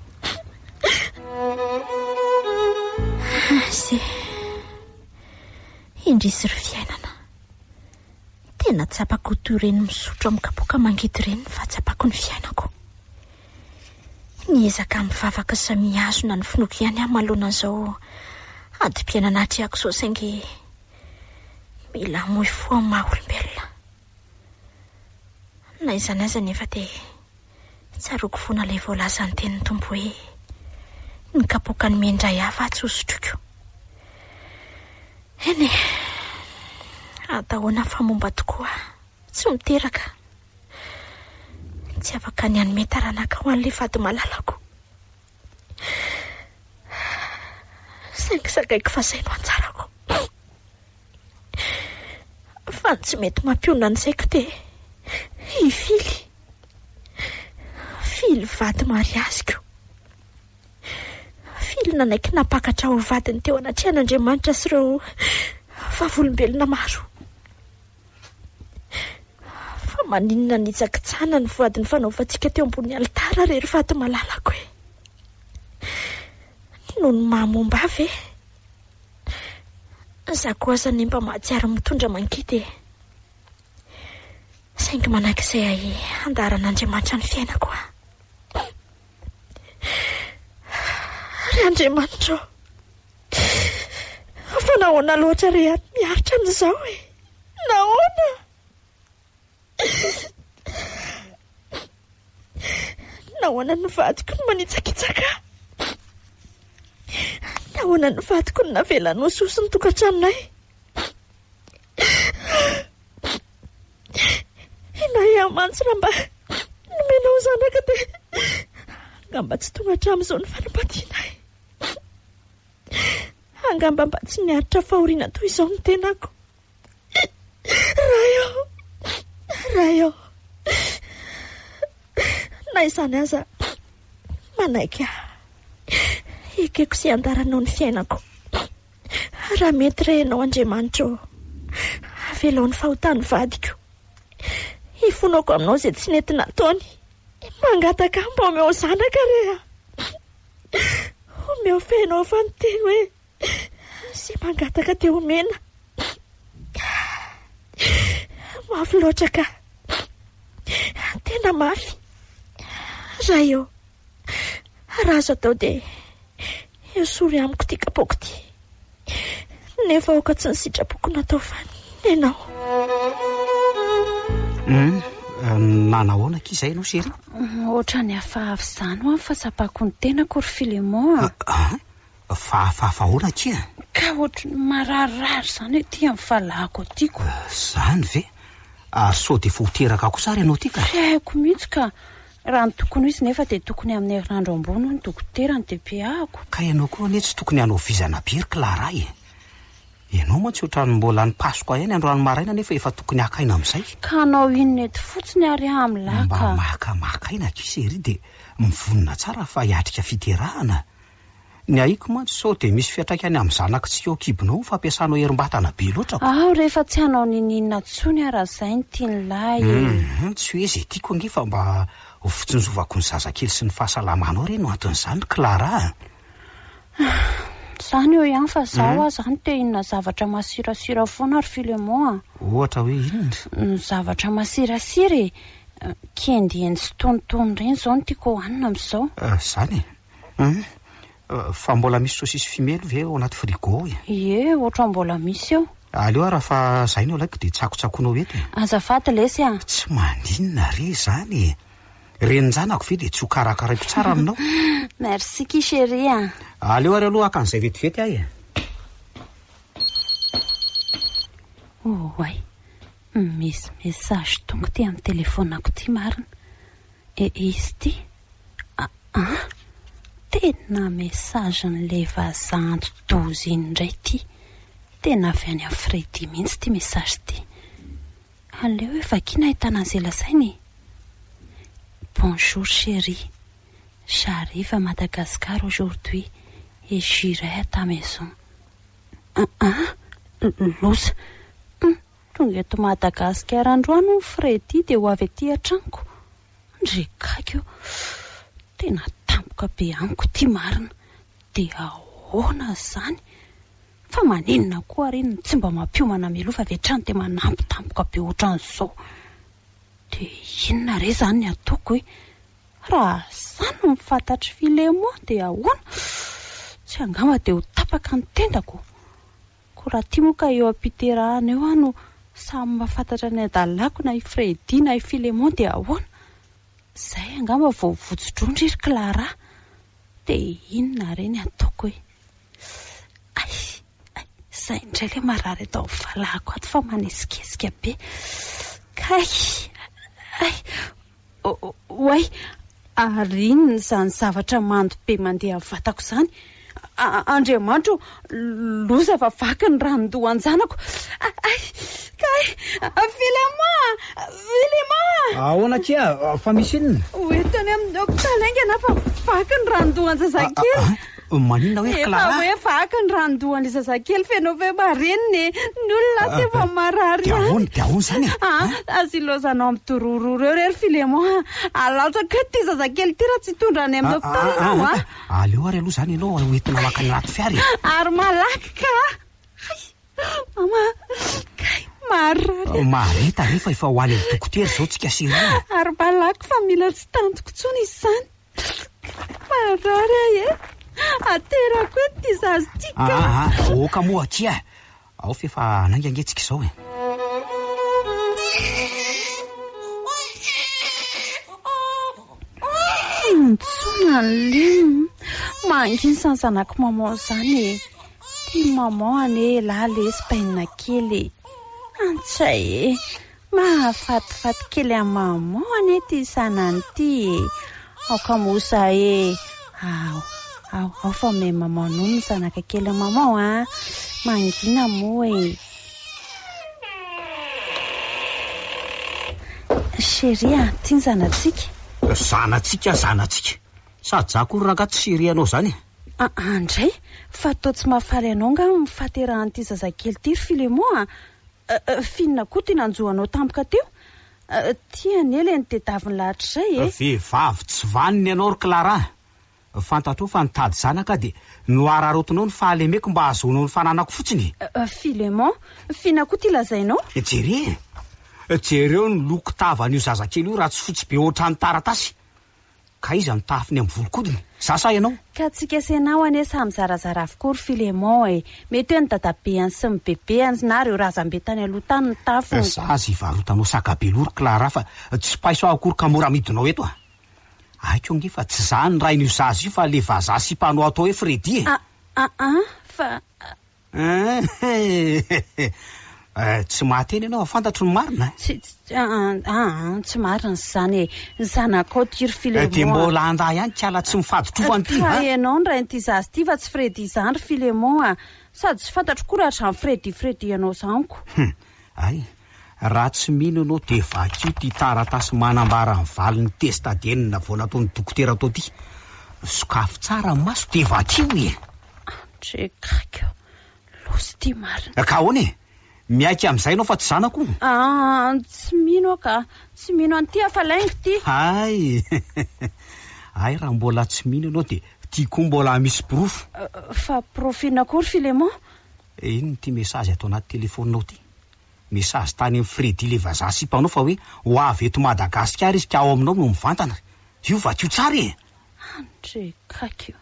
Ase. Indrisy ry fiainana. Tena tsapako toy ireny misotro amin'ny kapoaka mangidy ireny ny fahatsapako ny fiainako. Niezaka mivavaka sy mihazona ny finoako ihany aho manoloana an'izao adim-piainana atrehako izao saingy mila hamoy fo amin'ny maha-olombelona. Na izany aza anefa dia. Tsaroako fona ilay voalazan'ny tenin'ny Tompo hoe, Ny kapoakan'ny mey indray hafa atsy ho sotroiko. Eny e! Atahona fa momba tokoa, tsy miteraka. Tsy afaka ny hanome taranaka ho an'ilay vady malalako. Saingy zakaiko fa izay no anjarako. fa ny tsy mety mampionona ny saiko dia hifily fily vady mariaziko, fily nanaiky nampakatra ho vadiny teo anatrehan'Andriamanitra sy ireo vavolombelona maro. Fa maninona hanitsakitsahana ny voady nifanaovantsika teo ambonin'ny alitara re ry vady malalako e? Noho ny maha momba ahy ve? Za koa aza anie mba mahatsiaro mitondra mangidy e! Saingy manak'izay ahy handaharan'Andriamanitra ny fiainako a! Ry Andriamanitra ô! Fa nahoana loatra re aho miaritra an'izao e! Nahoana? Nahoana ny vadiko no manitsakitsaka ahy? Nahoana ny vadiko no navelany ho soso ny tokantranonay? Inay aho mantsy raha mba nomenao zanaka dia angamba tsy tonga hatramin'izao ny fanambadianay. Angamba mba tsy niaritra fahoriana toy izao ny tenako. Ray ô! Ray ô! Na izany aza, manaiky ahy. Ekeko sy andaranao ny fiainako. Raha mety re ianao Andriamanitra ô! Avelao ny fahotan'ny vadiko. Ifonako aminao izay tsy nety nataony. Mangataka ahy mba omeo zanaka re a! Omeo feno ao fa miteny hoe. Sy mangataka dia omena. Mafy loatra ka. Tena mafy. Raha eo. Raha azo atao dia esory amiko ity kapoaka ity. Nefa aoka tsy ny sitrapoko no atao fa ny anao. Hum, nanahoana akia izay ianao chérie? Ohatrany hafahafa izany ho'a ny fahatsapako ny tenako ry Philémon a. Ah, ah. fahafahafa ahoana akia an? Ka ohatry ny mararirary izany aty amin'ny fahalahako aty ko. Izany ve? Ary sao dia efa ho teraka kosa ary ianao aty ka? Tsy haiko mihitsy ka. Raha ny tokony ho izy nefa dia tokony amin'ny herinandro ambony hoy ny dokotera ny DPA-ko. Ka ianao koa anie tsy tokony hanao vizana be ry Clara e! Ianao mantsy ohatran'ny mbola any Pasoka ihany androany maraina nefa efa tokony haka aina amin'izay. Ka hanao inona eto fotsiny ary aho amin'lah ka. Mba maka maka aina akia chérie dia mivonona tsara fa hiatrika fiterahana. Ny aiko mantsy sao dia misy fiantraikany amin'ny zanak'i tsy ao kibonao ny fampiasanao herim-batana be loatra ko. Aho rehefa tsy hanao niniana tsony aho raha zay ny tian'i lahy e. Hum, tsy hoe zay tiako ange fa mba ho fitsinjovako ny zazakely sy ny fahasalamanao re no anton'izany Clara a. Ah, zany eo ihany fa zaho aza any te hinona zavatra masirasira foana ry Philemon a. Ohatra hoe inona? Ny zavatra masirasira e, kendieny sy tonitony reny zao no tiako hohanina amzao. Ah, zany e. Hum, fa mbola misy sosisy fimely ve ao anaty frigo ao e? Ie, ohatran'ny mbola misy eo. Aleo ary fa zay no ilaiko dia tsakotsakoinao eto e! Azafady lesy a! Tsy maninona re izany e! Renin-janako ve dia tsy ho karakaraiko tsara aminao? Merci ki chérie a! Aleo ary aloha haka an'izay vetivety aho e! Oay, misy message tonga ity amin'ny telefonako ity marina. E izy ty a a! Tena message n'le vazaha anti-doza iny indray ty! Tena avy any Afridi mihitsy ty message ty! Aleo hoe vakiana ahitana an'izay lazaina e! Bonjour chérie! J'arrive à Madagascar aujourd'hui et j'irai à ta maison! A a! Loza! Hum! Tonga eto Madagascar androany hono Freddy dia ho avy aty atranoko ndry gaga io tena tampoka be amiko ity marina dia ahoana zany fa maninona koa ary iny tsy mba mampiomana mialoha fa avy hatrany dia manampy tampoka be otran'izao dia inona re zany ny ataoko e raha za no mifatatry filemon dia ahoana tsy angamba dia ho tapaka ny tendako Ko raha ty moa ka eo ampiterahana eo aho no samy mahafantatra ny adalako na i Freddy na i Filemon dia ahoana? Zay angamba vao ho votso-drondry ry Clara! De inona re ny ataoko e! Ay! Ay! Zay indray le marary eto amin'ny valahako ato fa manesikesika be! Kay! Ay! Oay! Ary inona izany zavatra mando be mandeha amin'ny vatako izany? Andriamanitra o! Loza fa vaky ny ranon-dohan-janako! Kay! Kay! Vilema! Vilema! Ahoana akia? Fa misy inona? Ho entiny amin'ny hopitaly haingana fa vaky ny ranon-dohan-jazakely! Maninona hoe Clara? Efa hoe vaky ny ranon-dohan'ilay zazakely feno feo marenina e! Ny olona asa efa ah, marary ihany. Dia ahoana? Dia ahoana izany e? Ah, ah, ah, azy ilaozanao amin'ny dorororo eo re ry Filemon a! Alatsako eto ity zazakely ity raha tsy hitondra any amin'ny hopitaly ianao a! Aleo ary aloha izany ianao hoentina maka ny rato fiara e! Ary malaky ka! Hay! Mama! Kay! Maharary! Mahareta re fa efa ho any amin'ny dokotera izao tsika sy ireo. Ary malaky fa mila tsy tantiko intsony izany. Marary ahy e! Aterako eto ity zaza ity ka! Ah, ah, ah, aoka moa akia e! Ao f'efa hanainga ange tsika izao e! Intsona ny lim! Mangins ny zanako maman izany e! Tim maman anie elah lesy bainina kely e! Antsay e! Mahafatifaty kely an'i Maman anie ity Sanany ity e! Aoka moa izaho ee! Ao, ao, ao fa me Maman nono ny zanaka kelin'i Maman a! Mangina moa e! Chérie a! Ity ny zanatsika! Zanatsika, zanatsika! Sa zah akory rangahy tsy chérie anao izany e! Aa ndray! Fa toa tsy mahafaly anao angaha ny fahaterahan'ity zazakely ity ry Filemon a! Finina koa ty nanjo anao tampoka teo. Ty anie le nitedaviny lahatr'izay e! Vehivavy tsy vanona ianao ry Clara. Fantatrao fa nitady zanaka aho dia nohararaotinao ny fahalemeko mba hahazoanao ny fananako fotsiny e! Philemon, finina koa ty lazainao? Jere e! Jereo ny loko tavan'io zazakely io raha tsy fotsy be ohatran'ny taratasy. Ka iza no tahafiny amin'ny volon-kodiny? Za sa ianao? Ka tsy kesenao anie samy zarazara avokoa ry Philémon e! Mety hoe ny dadabeany sy ny bebeany na ireo razambe tany aloha tany no tafiny. Za aza hivarotanao saka be loha ry Clara fa tsy paiso aho akory ka mora amidinao eto a! Aiko ange fa tsy za no rain'io zaza io fa le vazaha sipanao atao hoe Freddy e! A-a-a! Fa Eehh tsy mahateny ianao a! Fantatro ny marina a! Tsy, aa aa tsy marina izany e! Ny zanakao Tiry Filemon a! Dia mbola andà ihany kiala tsy mifadin-trofany ity a! Ka ianao no rain'ity zaza ity fa tsy Freddy izany ry Filemon a! Sady tsy fantatro koa raha izany Freddy Freddy anao izany ko! Hum! Hay! Raha tsy mino ianao dia vakio ity taratasy manambara ny valin'ny test ADN navoana ataon'ny dokotera tao ity! Sokafy tsara ny maso dia vakio e! Andriakaiko, losy ty marina. Ka ahoana e? Miaiky amin'izay ianao fa tsy zanako o? Aa, tsy mino aho ka. Tsy mino an'ity aho fa laingo ty. Hay! Hay raha mbola tsy mino ianao dia ty koa mbola hamisy porofo. Fa porofo inona koa ry Filemon? Iny ity mesazy ato anaty telefoninao ity. Mesazy tany amin'i Freddy ilay vazaha sipanao fa hoe ho avy eto Madagasikara izy ka ao aminao no mivantana. Io vakio tsara e! Andriakaiko.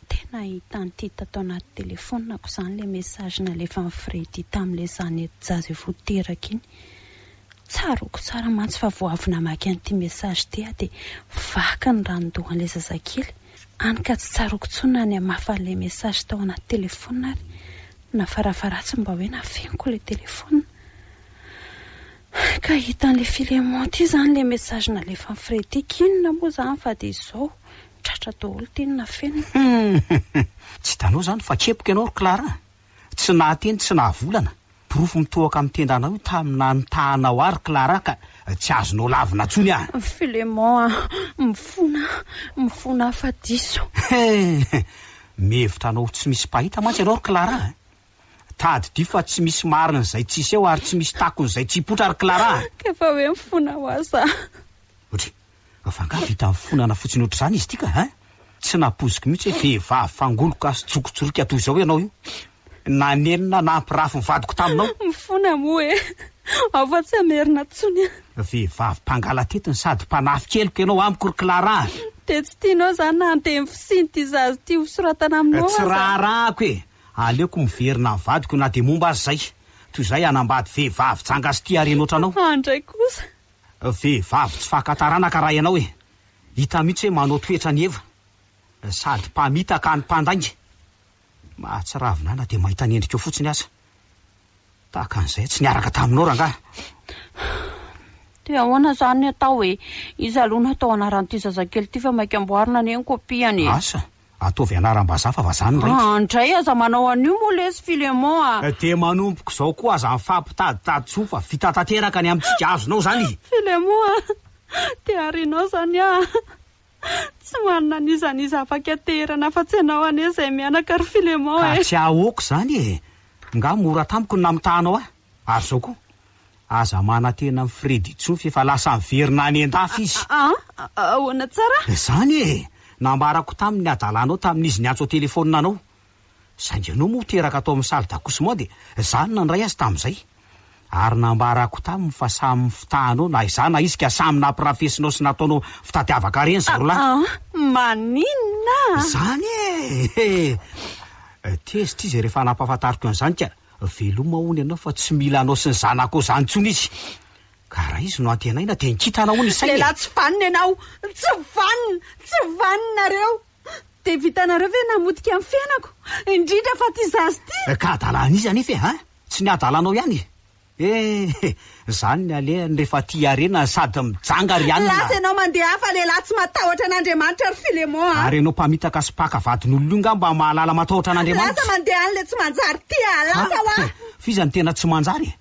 Tena ahitan'i Ty tato anaty telefonako zany le message nalefan'i Freddy tamle zanety jazy vao teraka iny. Tsaroako tsara mantsy fa vao avy namaky an'ity message ty aho de vaky ny ranon-dohan'le zazakely, any ka tsy tsaroako tsony na ny hamafa an'le message tao anaty telefona ary na farafaharatsiny mba hoe nafeniko le telefona. Ka hitan'le Philemon ty zany le message nalefan'i Freddy, k'inona moa zany fa de zao Tratra daholo teny nafenina. Humm! Tsy hitanao izany fa kepoka ianao ry Clara a! Tsy nahateny tsy nahavolana, porofo mitohoka amin'ny tendanao io tamina nitahanao ahy ry Clara ka tsy azonao lavina intsony aho. Philemon a! Mifona a! Mifona afa-diso. Hee! Mihevitra anao ho tsy misy mpahita mantsy ianao ry Clara a! Tadidio fa tsy misy marina izay tsy hiseho ary tsy misy takona izay tsy hipoitra ry Clara a! Ka efa hoe mifona ho ahy za. Otry, fa angaha vita nifonana fotsiny ohatr'izany izy ity ka hein! Tsy nampoiziko mihitsy hoe vehivavy fangoloka sy jokotsoroka toy izao ianao io! Nanenina nampirafy ny vadiko taminao! Mifona moa e! Ao fa tsy hamerina intsony a! Vehivavy mpangalatety no sady mpanafika heloka ianao amiko ry Clara a! Dia tsy tianao izany na anteny fotsiny ity zaza ity hosoratana aminao aza? Tsy raharahako e! Aleoko miverina amin'ny vadiko na dia momba aza izay. Toy izay hanambady vehivavy janga sy tia harena ohatranao. Fa andray kosa. Vehivavy tsy faka taranaka raha ianao e! Hita mihitsy hoe manao toetra an'i Eva. Sady mpamitaka any mpandainga. Mahatsiravina ahy na dia mahita ny endrikao fotsiny aza. Tahaka an'izay aho tsy niaraka taminao rangahy. Dia ahoana izany ny atao e? Iza aloha no hatao anaran'ity zazakely ity fa maika amboarina anie ny kopiany e! Asa! Ataovy anaram-bazaha fa vazaha ny raiky. An dray aza manao an'io moa lesy Philemon a! Dia manomboka izao koa aza mifampitaditady tsy ho fa vita tanteraka ny amintsika azonao izany e! Philemon a! Dia ary ianao izany a! Tsy manana n'iza n'iza afaka tehirana afa-tsy ianao anie izay mianaka ry Philemon e! Ka tsy ahaoako izany e! Nga mora tamiko ny namitahanao ahy? Ary zao koa, aza manantena an'i Freddy intsony fa efa lasa niverina any an-dafy izy. A, a, a, ahoana tsara? Izany e! Nambarako taminy ny hadalanao tamin'izy niantso an-telefaonina anao. Saingy ianao moa teraka tao amin'ny salle d'accouchement dia izaho no nandray azy tamin'izay. Ary nambarako taminy fa samy mifitahanao na izaho na izy ka samy nampirafesinao sy nataonao fitadiavaka reny zareo lahy. A, a, maninona? Izany e! He! Tezitra izy rehefa nampahafantariko an'izany ka Veloma hono ianao fa tsy mila anao sy ny zanakao izany intsony izy. Ka raha izy no antenaina dia nkitana hono ny sainy e! Lehilahy tsy vanona ianao! Tsy vanona! Tsy vanona nareo! Dia vitanareo ve namotika ny fiainako? Indrindra fa ity zaza ity! Ka adala an'iza anefa e! Tsy ny adalanao ihany e! Eh! Zany ny alehany refa tia harena sady mijanga ry anona. Lasa ianao mandeha hafa lehilahy tsy matahotra an'Andriamanitra ry Philemon a. Ary ianao mpamitaka sy mpaka vadin'olona io ngah mba mahalala matahotra an'Andriamanitra. Lasa mandeha any le tsy manjary tia a lasa hoa. An, f'iza no tena tsy manjary e?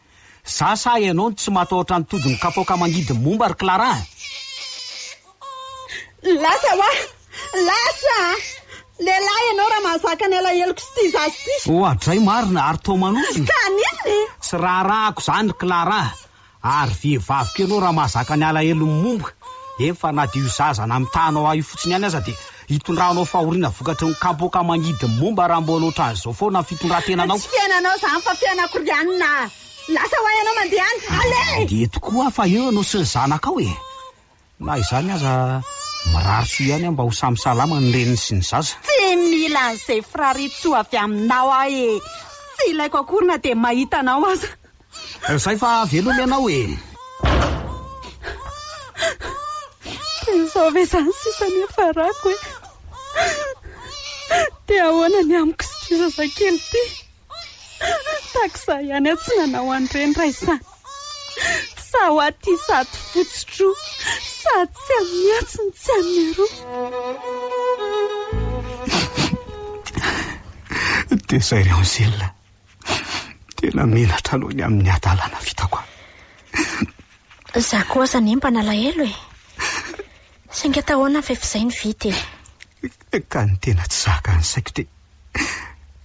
Za sa ianao no tsy matahotra ny todin'ny kapoaka mangidy momba ry Clara a? Lasa hoa. Lasa a! Lehilahy ianao raha mahazaka ny alaheloko sy tia zaza ity. Oa dray marina ary toa manohina. Ka an'inona e? Tsy raharahako izany ry Clara a! Ary vehivavy koa ianao raha mahazaka ny alahelon'ny momba. Efa na dia io zaza namitahanao ahy io fotsiny ihany aza dia hitondranao fahoriana vokatry ny kapoaka mangidy ny momba raha mbola ohatran'izao foana ny fitondrantenanao. Tsy fiainanao izany fa fiainako ry anona a! Lasa ho ahy ianao mandeha any. Alé! Mandeha tokoa aho fa eo ianao sy ny zanakao e! Na izany aza, mirary soa ihany aho mba ho samy salama ny reniny sy ny zaza. Tsy mila an'izay firarin-tsoa avy aminao aho e! Tsy ilaiko akory na dia mahita anao aza. Izay fa veloma ianao e! Dia izao ve izany sisa ny hiafarako e! Dia ahoana ny amiko sy ity zazakely ity? Taxa ihany aho tsy nanao an'ireny Raisa. Sa ho aty sady fotsy tro sa tsy amin'ny atsy no tsy amin'ny aroa. Teza ry Angèle. Tena menatra aloha ny amin'ny hadalana vitako an. Izaho koa aza anie mba nalahelo e. Saingy atao ahoana fa efa izay ny vita e. Ka ny tena tsy zaka ny saiko dia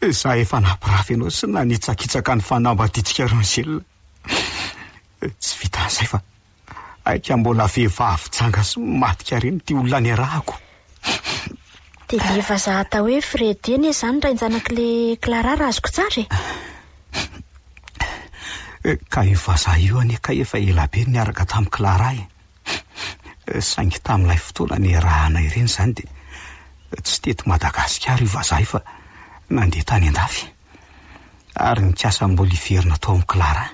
Izaho efa nampirafy anao sy nanitsakitsaka ny fanambadiantsika Rangel. Tsy vitan'izay fa aika mbola vehivavy janga sy madika reny ity olona niarahako. Dia ilay vazaha atao hoe Freddy anie izany rain-janak'ilay Clara raha azoko tsara e. Ka io vazaha io anie kay efa ela be no niaraka tamin'i Clara e. Hum, saingy tamin'ilay fotoana niarahana ireny izany dia tsy teto Madagasikara io vazaha io fa nandeha tany an-dafy, ary nikasa mbola hiverina tao amin'i Clara.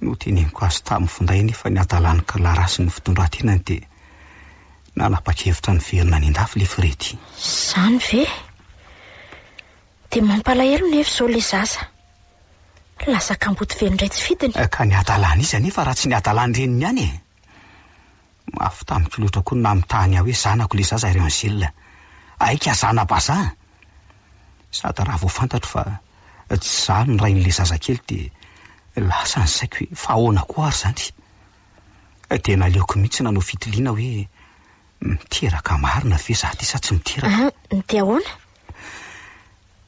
Noteneniko azy tamin'ny finday anefa ny hadalan'i Clara sy ny fitondran-tenany dia nanapa-kevitra niverina any an-dafy ilay Freddy. Izany ve? Dia mampalahelo nefa izao ilay zaza. Lasa kamboty velona indray tsy fidiny. Ka ny hadalan'iza anefa raha tsy ny hadalan'ny reniny ihany e! Mafy tamiko loatra koa ny namitahany ahy hoe zanako ilay zaza ry Angèle. Aika zana-bazaha! Sady raha vao fantatro fa tsy izaho no rain'ilay zazakely dia lasa ny saiko hoe fa ahoana koa ary izany? Dia naleoko mihitsy nanao fitiliana hoe Miteraka marina ve za ty sa tsy miteraka? An, dia ahoana?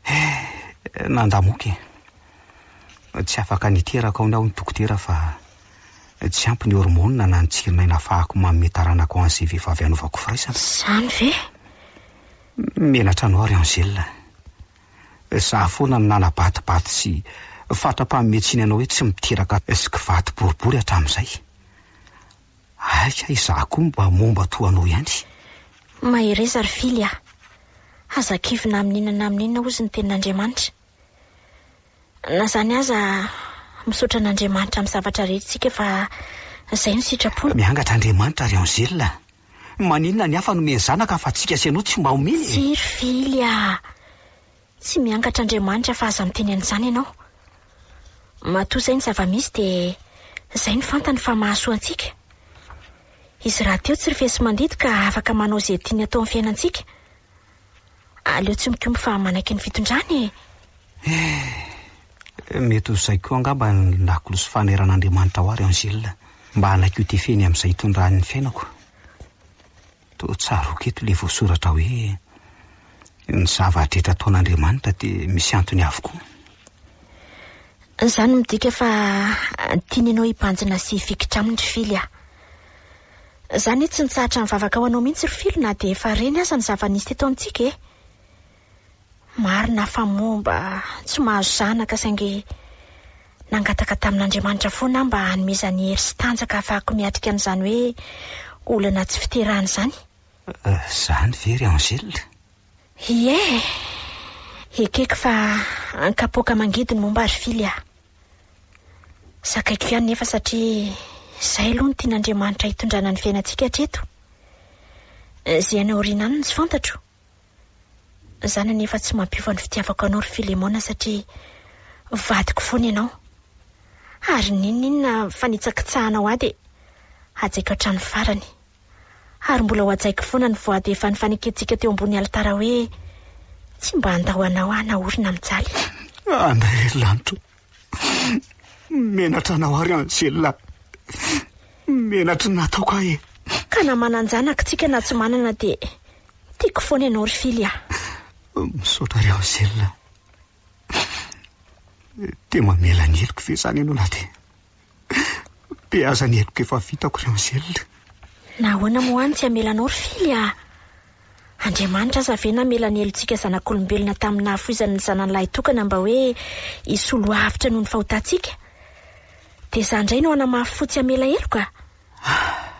Eh, nandamoka e. Tsy afaka niteraka aony aho ny dokotera fa tsy ampy ny hormonina na ny tsirin'aina hafahako manome taranaka ho an'izay vehivavy hanaovako firaisana. Zany ve? Menatra anao ry Angèle. Za foana no nanabatibaty sy fatra-panometsina anao hoe tsy miteraka sy kivati-boribory hatramin'izay. Aika izaho koa mba momba toa anao ihany. Mahereza ry Fily a! Aza kivina amin' inona na amin' inona hozy ny tenin' Andriamanitra. Na izany aza, misaotra an' Andriamanitra amin'ny zavatra rehetra isika fa izay no sitrapony. Miangatra Andriamanitra ry Angèle a! Maninona ny hafa nomeny zanaka fa antsika sy ianao tsy mba omeny e! Tsia ry Fily a! Tsy miangatra Andriamanitra fa aza miteny an'izany ianao. Matoa izay ny zava-misy dia izay no fantany fa mahasoa antsika. Izy rahateo tsy rifesi-mandidy ka afaka manao izay tiany atao amin'ny fiainantsika. Aleo tsy mikomby fa manaiky ny fitondrany e! Eh, mety ho izay koa angamba ny lakolosy fameran'Andriamanitra ao ary Angèle, mba hanaiky ho tefeny amin'izay itondrany ny fiainako. Toa tsaroako eto ilay voasoratra hoe, Ny zava-drehetra ataon'Andriamanitra dia misy antony avokoa. Izany midika fa tiany ianao hibanjina sy hifikitra aminy ry Fily a! Za anie tsy nitsahatra nivavaka ho anao mihitsy ry Fily na dia efa reny aza ny zava-nisy teto amintsika e! Marina fa moa mba tsy mahazo zanaka saingy nangataka tamin'Andriamanitra foana aho mba hanomezany hery sy tanjaka hahafahako miatrika an'izany hoe olana tsy fiterahana izany. Izany ve ry Angèle? Ie! Ekeko fa an-kapoaka mangidy ny momba ry Fily aho. Zakaiko ihany nefa satria izay aloha no tian'Andriamanitra hitondrana ny fiainantsika hatreto. Izay any aoriana any no tsy fantatro. Za nanefa tsy mampiova ny fitiavako anao ry Filemona satria vadiko foana ianao. Ary n'inon'inona fanitsakitsahanao ahy dia hajaiko hatramin'ny farany. Ary mbola hohajaiko foana ny voady efa nifanekentsika teo ambony alitara hoe, Tsy mba handao anao aho naorina mijaly. Andriamanitro, Menatra anao ary Angela. Menatry ny nataoko ahy e. Ka na manan-janaka tsika na tsy manana dia tiako foana ianao ry Fily a. Misaotra ry Angela. Dia mamela ny heloko ve izany ianao na dia. Dia aza ny heloka efa vitako ry Angèle. Nahoana moa any tsy hamelanao ry Fily ah? Andriamanitra aza ve namela ny helotsika zanak'olombelona tamin'ny nahafoizany ny zanany lahitokana mba hoe hisolo avotra noho ny fahotantsika? Dia izaho indray no hanamafy fo tsy hamela heloka? Ah!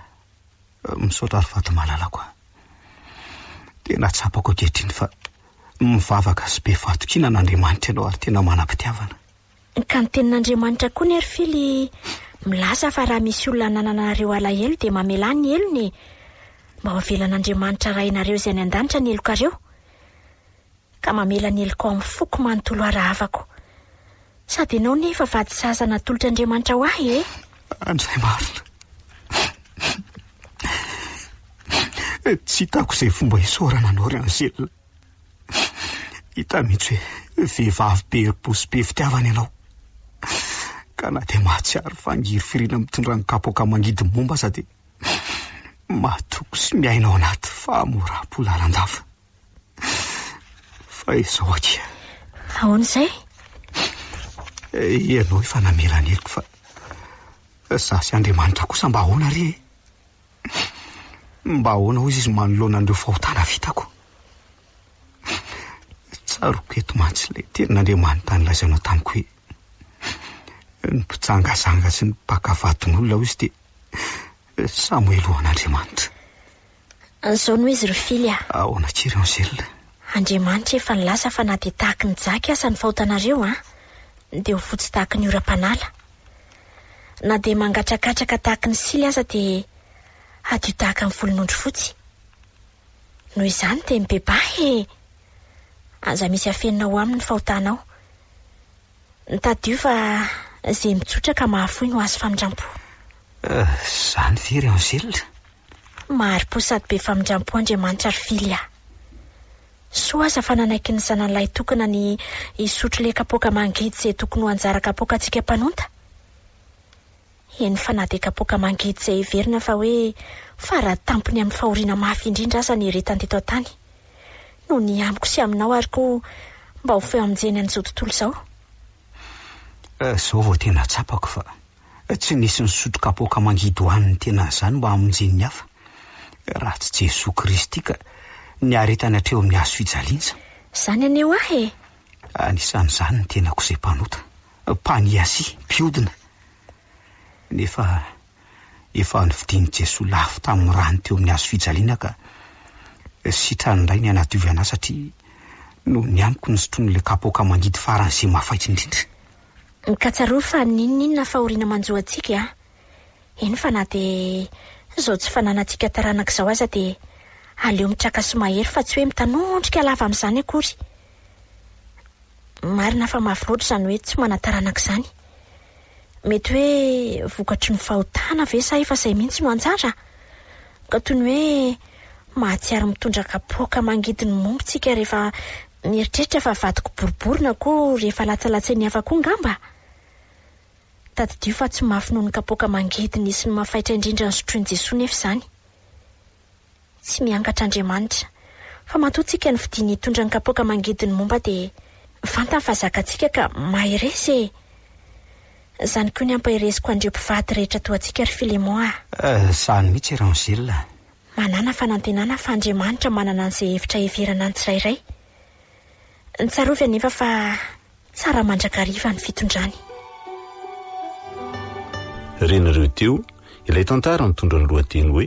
Misaotra ry vady malalako ah! Tena tsapako ankehitriny fa mivavaka sy be fahatokiana an'Andriamanitra ianao ary tena manam-pitiavana. Ka ny tenin'Andriamanitra koa ny ry fily milaza fa raha misy olona anananareo alahelo dia mamelà ny helony e! Mba ho avelan'Andriamanitra Rainareo izay any an-danitra ny helokareo. Ka mamela ny heloka ao amin'ny foko manontolo ary havako. Sady ianao anie efa vady zaza natolotr'Andriamanitra ho ahy e! Andray marina. Tsy hitako izay fomba isaorana anao ry Anselme. Hita mihitsy hoe vehivavy be herim-po sy be fitiavana ianao, ka na dia mahatsiaro fa ngirifiriana mitondra ny kapoaka mangidy momba aza dia mahatoky sy miaina ao anaty fahamoram-po lalandava. Fa izao akia. Ahoana izay? Ianao efa namela ny heloko fa izaho sy Andriamanitra kosa mba ahoana re e? Mba ahoana hozy izy manoloana an'ireo fahotana vitako? Tsaroako eto mantsy ilay tenin'Andriamanitra nilazainao tamiko hoe, Ny mpijangajanga sy ny mpaka vadin'olona hozy dia samoelo ho an'Andriamanitra. An'izao no izy ry Fily a! Ahoana akia ry Angèle? Andriamanitra efa nilaza fa na dia tahaky ny jaky aza ny fahotanareo an, dia ho fotsy tahaky ny oram-panala. Na dia mangatrakatraka tahaka ny sily aza dia hadio tahaka ny volon'ondry fotsy. Noho izany dia mibebaha e! Aza misy afenina ho aminy ny fahotanao. Tadio fa izay mitsotra ka mahafoy no azo famindrampo. Izany ve ry Angèle? Mahari-po sady be famindram-po Andriamanitra ry Fily a! Soa aza fa nanaiky ny zanany lahy tokana ny hisotro le kapoaka mangidy izay tokony ho anjara kapoakantsika mpanonta. Eny fa na dia kapoaka mangidy izay heverina fa hoe fara tampony amin'ny fahoriana mafy indrindra aza nieretany teto an-tany no ny amiko sy aminao ary koa mba ho feo amin-jeny an'izao tontolo izao. Humm! Izao vao tena tsapako fa. Tsy nisy nisotro kapoaka mangidoan'ny tenany izany mba hamonjen'ny hafa, raha tsy Jesoa Kristy ka niaretany hatreo amin'ny hazo fijaliana. Izany anie ho ahy e! Anisan'izany ny tenako izay mpanota, mpaniasia, mpiodina. Nefa efa novidian'i Jesoa lafo tamin'ny rany teo amin'ny hazo fijaliana ka sitrany indray ny hanadiovana ahy satria noho ny amiko ny sotroin'ilay kapoaka mangidy faran'izay mafaitra indrindra. Ka tsarovy fa n'inon'inona fahoriana manjo antsika a! Eny fa na dia izao tsy fananantsika taranaka izao aza dia aleo mitraka sy mahery fa tsy hoe mitanondrika lava amin'izany akory. Marina fa mafy loatra izany hoe tsy manan-taranaka izany. Mety hoe vokatry ny fahotana ve sa efa izay mihitsy no anjara? Ka toy ny hoe. Mahatsiaro mitondra kapoaka mangidy ny momba tsika rehefa mieritreritra fa vadiko boribory na koa rehefa latsalatsain'ny hafa koa ngamba? Tadidio fa tsy mafy noho ny kapoaka mangidy nisy ny mafaitra indrindra nosotroin'i Jesoa nefa izany. Tsy miangatra Andriamanitra, fa matoa tsika ny fidiany hitondra ny kapoaka mangidy ny momba dia fantany fa zakatsika ka mahereza e! Zany koa ny ampahereziko an'ireo mpivady rehetra toa antsika ry Filemon ah. Eh, sahy mihitsy i Rangel ah. Manàna fanantenana fa Andriamanitra manana an'izay hevitra heverana ny tsirairay. Tsarovy anefa fa tsara mandrakariva ny fitondrany. Renareo teo ilay tantara mitondra ny lohateny hoe.